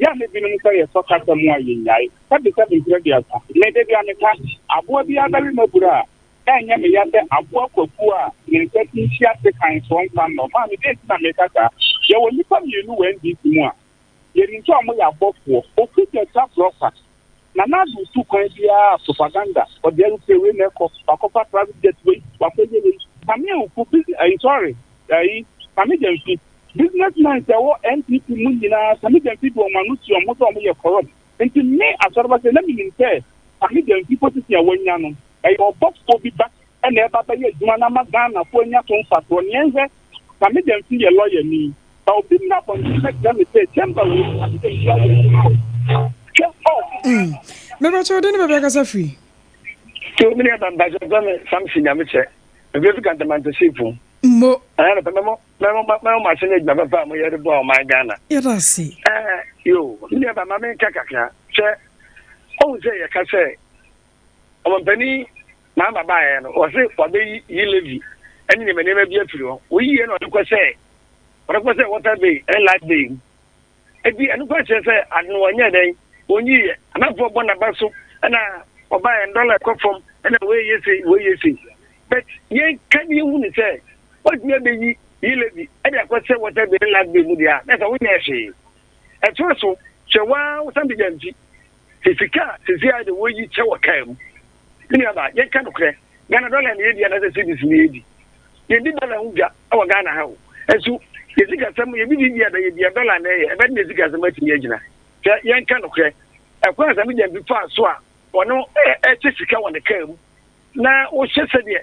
Yɛ a na binom sɛ yɛsɔ kasa mu a yennyae. Sɛbesɛbe mfe aduasa. Me da biara meka, aboa biara bɛwe m'abura a, ɛrenyɛ me ya sɛ aboa kwakuo a ne nsa ti nhye ase kann soɔ mfa nnɔ. Maame, dɛn nti na meka saa? Yɛwɔ nnipa mmienu wɔ NDC mu a yɛnim sɛ wɔyɛ abɔfoɔ, Oku Gyatsa Brɔfa. Nana Addo ntu kwan biara propaganda ɔde aeroplane wei na ɛkɔ wakɔfa private jet wei wakɔyɛ wei Kame Awuku busi ayi sorry ayi Kame Gyamfi business men sɛ ɛwɔ NPP mu nyinaa Kame Gyamfi de wɔn ano si wɔn ho sɛ wɔn yɛ corrupt nti me Asɔreba sɛ na menim sɛ Kame Gyamfi position a wanya no ɛyɛ ɔbɔfoɔ bi ba na ɛba bɛyɛ adwuma na ama Ghanafoɔ anya so mfasoɔ. Nea nhwɛ, na me deɛ nso yɛ lɔyani. Sɛ obi mmra abɔnten mmɛkyerɛ me sɛ chamber wei mu na me deɛ metua yɛ adwuma o, hwɛ ɔɔfo. Me pa kyɛw, wo de ne baabi akasa firi? Tio me deɛ mpa mpa kyɛw, frɛ me Samson Nyamekyɛ, me frɛ fi Kantamanta Seapon. Mmo. Ɛɛ no pɛ, mɛ mo, mɛ mo, mɛ mo ahyɛ ne adwuma papa a mo yɛ de boa ɔman Ghana. Yɛda ase. Ɛɛ, yoo, me deɛ mpa ma me nka kakra, hwɛ, ɔhu sɛ yɛka sɛ, Ɔmampanin Mahama baeɛ no, wɔse wɔabɛyiyi levy ne nneɛma nneɛma bi afiri hɔ. Wɔyiyiɛ no ɔde kɔ sɛ ɔde kɔ sɛ water bay ne light bay mu. Eti ɛno kora kyerɛ sɛ ade no wɔnyɛɛ dɛn, wɔnyiyiɛ. Anafoɔ bɔ n'aba so na ɔbaeɛ no dɔla ɛkɔ fam na wei yɛ sei wei yɛ sei. But yɛka ne yɛhu ne sɛ wɔatumi abɛyi yi levy de akɔ sɛ water bay ne light bay mu deɛ a na ɛsɛ wonyɛɛ hwee. Ɛtoa so hwɛ waa wosan bɛgya mfi. Sɛ sika a sesei ara deɛ wɔyi kyɛ wɔ kaa mu. Me nuabaa, yɛnka nokorɛ, Ghana dɔla na yɛdi anaasɛ cedis na yɛdi? Yɛndi dɔla ho dwa wɔ Ghana ha o. Nso yɛn sikasɛm, yɛn biribiara a ɛbɛyɛ biara, dɔla na ɛyɛ. Ɛbɛde na yɛn sikasɛm atumi agyina. Hwɛ, yɛnka nokorɛ, ɛkwan a Asame Gyamfi faa so a ɔno ɛkyɛ sika wɔ ne kaa mu na wohyɛ sɛdeɛ.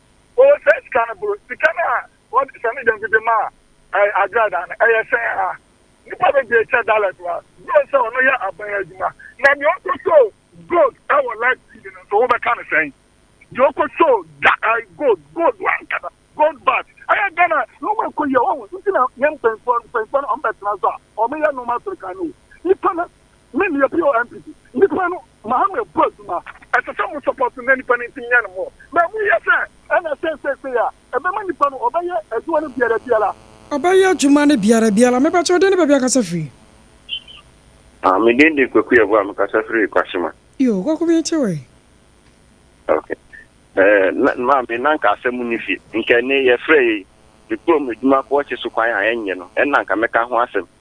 Ɔwɔ saa sika no boro. Sika no a wɔde sane dɛm dede maa ɛɛ agradaa no, ɛyɛ sɛn ara? Nnipa bebree kyɛ dala bi ara. Gye sɛ ɔno yɛ aban adwuma. Na deɛ ɔkɔsɔɔ gold wɔ live TV no nso, wobɛka no sɛn? Deɛ ɔkɔsɔɔ da ɛɛ gold, gold ankasa, gold bars. Ɛyɛ Ghana nneɛma a ɛkɔ yie. Wahu? Nti na yɛn mpanyinfoɔ, mpanyinfoɔ no, wɔbɛtena so a, wɔyɛ nneɛma soronko. Ano o, nnipa no Me meyɛ POMPD nipa no Mohammed bɔ adwuma ɛsɛ sɛ mo support na nipa no ntim nyɛ no more na ɛmu yɛ sɛ ɛna ɛsɛ seisei a ɛbɛma nipa no ɔbɛyɛ adwuma no biara biara. Ɔbɛyɛ adwuma no biara biara. Me pakyɛ wo din ne baabi akasa firi. Ah me din de Kwaku Yeboah me kasa firi Kwasima. Yoo Kwaku me te wɛn. Ok eh na maame na nka asɛm nni fie nka ɛnne yɛ frɛ yɛ yi me kurom adwuma kɔ ɔkye so kwan a ɛnyɛ no ɛnna nka mɛka ho asɛm.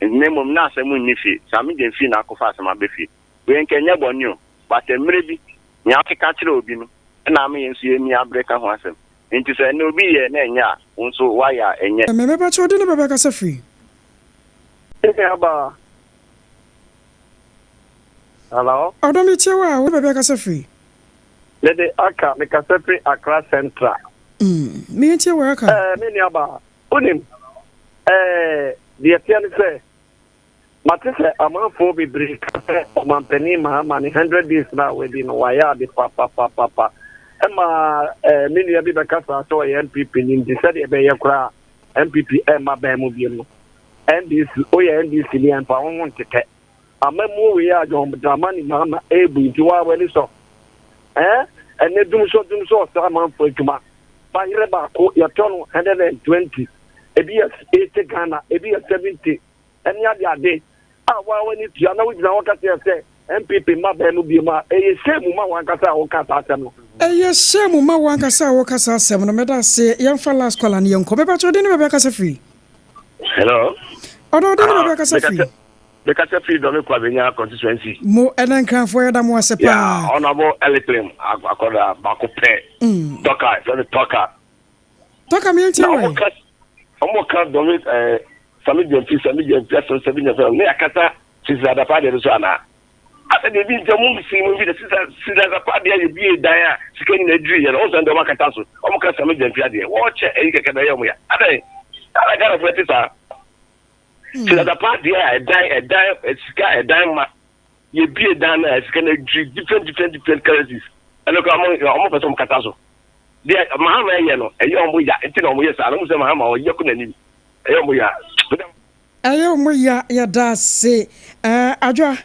Na mmom na asɛm nni fie, saa me deɛ mfii n'akɔfa asɛm aba fie. Wei nka ɛnyɛ bɔne o, but mmerɛ bi, nea wote ka kyerɛ obi no na ama yɛn nso yɛani abere ka ho asɛm. Enti sɛ ɛnnɛ obi yɛɛ na ɛnyɛ a, wo nso woayɛ a ɛnyɛ. Me me pakyɛ wode ne bɛ bɛkasa firi. Me nua baa. Hello. Ɔdɔ me tie wo a wode bɛ bɛkasa firi. Mede Accra, me kasa firi Accra Central. Mm, me ntie wo Accra. Eh, me nua baa. Wonim, ɛɛ, deɛ ɛteɛ ne sɛ, mate sɛ amanfoɔ bebree ka sɛ Ɔmampanin Mahama ne hundred days no a wadi no, wayɛ ade papapapapa. Ɛma, ɛɛ, me nua bi bɛkasaa sɛ ɔyɛ NPP ni nti sɛdeɛ ɛbɛyɛ koraa a NPP ɛremma bɛn mu biom no, NDC, woyɛ NDC ni a, mfa wo ho ntetɛ. Amammuo wei a John Dramani Mahama ɛɛbu nti waa w'ani sɔ? Ɛɛ ɛnɛ dumsɔ dumsɔ ɔsra amanfoɔ adwuma ba yerɛ baako yɛtɔ no 120 ebi yɛ 80 Ghana ebi yɛ 70 ɛne ade ade a waa w'ani tua na wogyina hɔ ka kyerɛ sɛ NPP mma bɛn mu biom a ɛyɛ shame ma w'ankasa a woka saa asɛm no. Ɛyɛ shame ma w'ankasa a woka saa asɛm no. Meda ase. Yɛmfa last caller no yɛnkɔ. Mepakyɛ wo den ne baabi akasa firi? Hello. Ɔdɔ wo den ne baabi akasa firi? Me kasa firi Dɔme Kwabenya constituency. Mo ɛna nkranfoɔ yɛda mo ase paa. Yeah honourable Elikplim akwadaa baako pɛ. Mm. Tɔka fɛ no tɔka. Tɔka mi nti wɛn. Na ɔmo ka Dɔme ɛɛ eh, Sami Gyamfi Sami Gyamfi asɛm Sami Gyamfi asɛm ne akasa Sisi Adapa adeɛ no so anaa. Asɛ deɛ bi nti ɔmo nsi mo nfi de Sisi Sisi Adapa adeɛ yɛ bie dan a sika nyina adiri yɛ no ɔmo sɛ deɛ ɔmo akata so ɔmo ka Sami Gyamfi adeɛ wɔɔkyɛ ɛyi kɛkɛ na ɛyɛ ɔmo ya adɛn. Ana Ghana fo ɛte saa. Hmm. Sɛ dada paa deɛ a ɛdan ɛdan sika ɛdan ma yɛbie dan no a sika no adwiri different different different currencies ɛno kora ɔmo pɛ sɛ ɔmo kata so deɛ mahama ɛyɛ no ɛyɛ ɔmo ya nti na ɔmo yɛ saa na ɔmo sɛ mahama ɔyɛ ko n'anim ɛyɛ ɔmo ya ɛyɛ ɔmo ya yɛda ase ɛɛ adwa.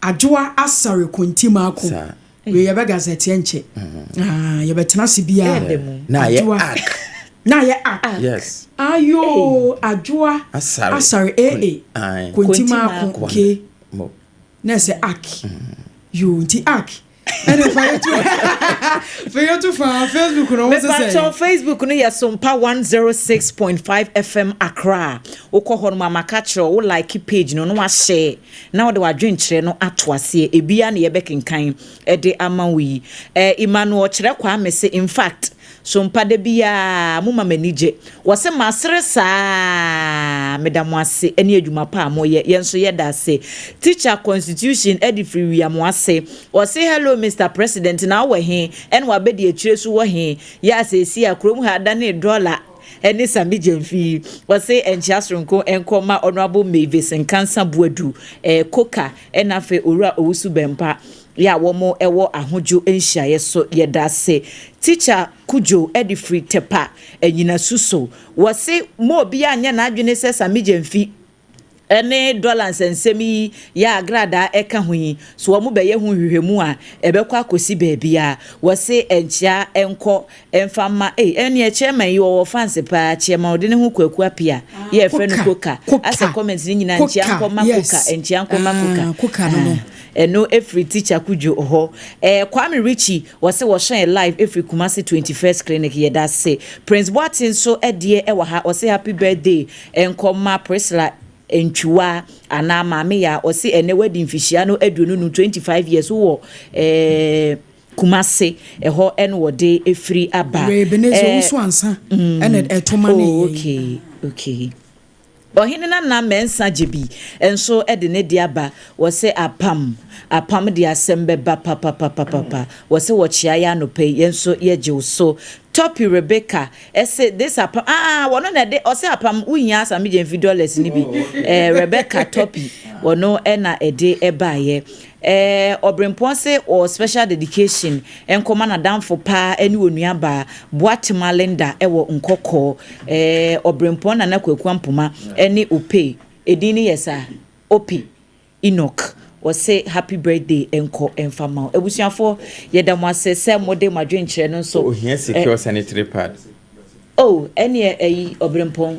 Adwoa Asare Konti Mako. Sa. Wei yɛbɛ gazɛteɛ nkyɛ. Ah, yɛbɛ tena se biaa. Ɛɛdɛ mu. Na ayɛ ak. Na ayɛ ak. Yes. Ayoo, Adwoa Asare. Asare AA. Ae. Konti Mako. Ke. Mo. Na ɛsɛ ak. Yoo, nti ak. ɛne fa yɛtu fa yɛtu fa facebook no wo sɛ sɛ facebook no yɛ sompa 106.5 fm akra a wokɔ hɔ no ma maka kyerɛ wo like page no na wahyɛ na wode wadwenkyerɛ no ato aseɛ ebia na yɛbɛkenkan de ama wo yi eh, emmanuel kyerɛ kwame se in fact So mpa da biara moma m'ani gye? Wɔse masere saa aa Meda mo ase ne adwuma pa a moyɛ Yɛn nso yɛda ase Teacher constitution de firi wia mo ase Ɔse hello Mister president na wowɔ he? Ɛna wabɛdi akyire so wɔ he? Yɛ a seesei a kurom ha adanee dɔla ne same gyamfi yi Ɔse nkyea soronko nkɔ ma honourable Mavis Nkansah Boadu eh Coker na afei Owura Owusu Bɛmpa Yɛ a wɔn wɔ ahodwo nhyiaeɛ so yɛda ase teacher kudjo de firi tɛpa anyinasu so wɔse ma obiaa nyɛ n'adwene sɛ samigya nfi ne dɔla nsɛnsɛm yi yɛ a gradaa ɛka ho yi so wɔn bɛyɛ ho nhwehwɛmu a ɛbɛkɔ akɔsi baabiaa wɔse ɛnkyea ɛnkɔ Ɛmfa mma ei ɛneɛ chairman yi ɔwɔ fans paa chairman ɔde ne ho kɔ aku apia yi a ɛfrɛ no koka asɛ comment no nyinaa nkyia nkɔ ma koka nkyia nkɔ ma koka aah ɛno ɛfiri teacher kudwo hɔ ɛɛ kwame Richie wɔse wɔhyɛ yɛn live ɛfiri kumase twenty first clinic yɛdase prince boate nso ɛdeɛ ɛwɔ ha ɔse happy birthday nkɔ ma priscilla ntwiwa anaa maame yaa ɔse ɛnɛ wadi mfihyia no aduonu num twenty five years wowɔ ɛɛ. Kumase ɛhɔ ɛna wɔde ɛfiri aba. Wɔ Ebenezer Owusu Ansah ɛna ɛto ma ne yɛn. Oh okay okay. Ɔhene Nana Mensah Gyebi nso de ne de aba, wɔse apam apam de asɛm bɛba papapapapa, wɔse wɔkyea yɛ anɔpa yi, yɛn nso yɛgyew so. Toppy Rebecca se this apam aah wɔno na ɛde, ɔse apam wohia a Sammy Gyamfi dollars no bi, eh Rebecca Toppy wɔno na ɛde baeɛ. Ɛɛ, Ɔbrempɔn se ɔɔ special dedication nkɔma n'adamfo paa ɛne onua baa, Boatema Linda ɛwɔ Nkɔkɔɔ. Ɛɛ, Ɔbrempɔn Nana Kwaku Ampoma ɛne Ope, edin no yɛ saa? Ope Enoch, ɔse happy birthday nkɔ ɛmfa mma wo. Abusuafoɔ, yɛda mo ase sɛ mode mo adwenkyerɛ no nso. Sɛ ohia sika ɔsanitary pad. Oh ɛneɛ ɛyi ɔbrempɔn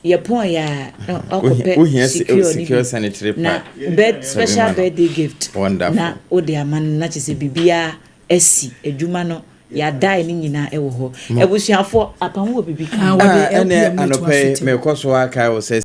yɛpɔn yɛ a na wakɔpɛ secure ne bi na bed special birthday gift na wode ama no na kyesɛ biribiaa asi adwuma no yɛadae ne nyinaa ɛwɔ hɔ abusuafoɔ apamu wɔ biribi ka ho. Ɛnɛ anɔpɛ yi mekɔ so ara kae wo sɛ.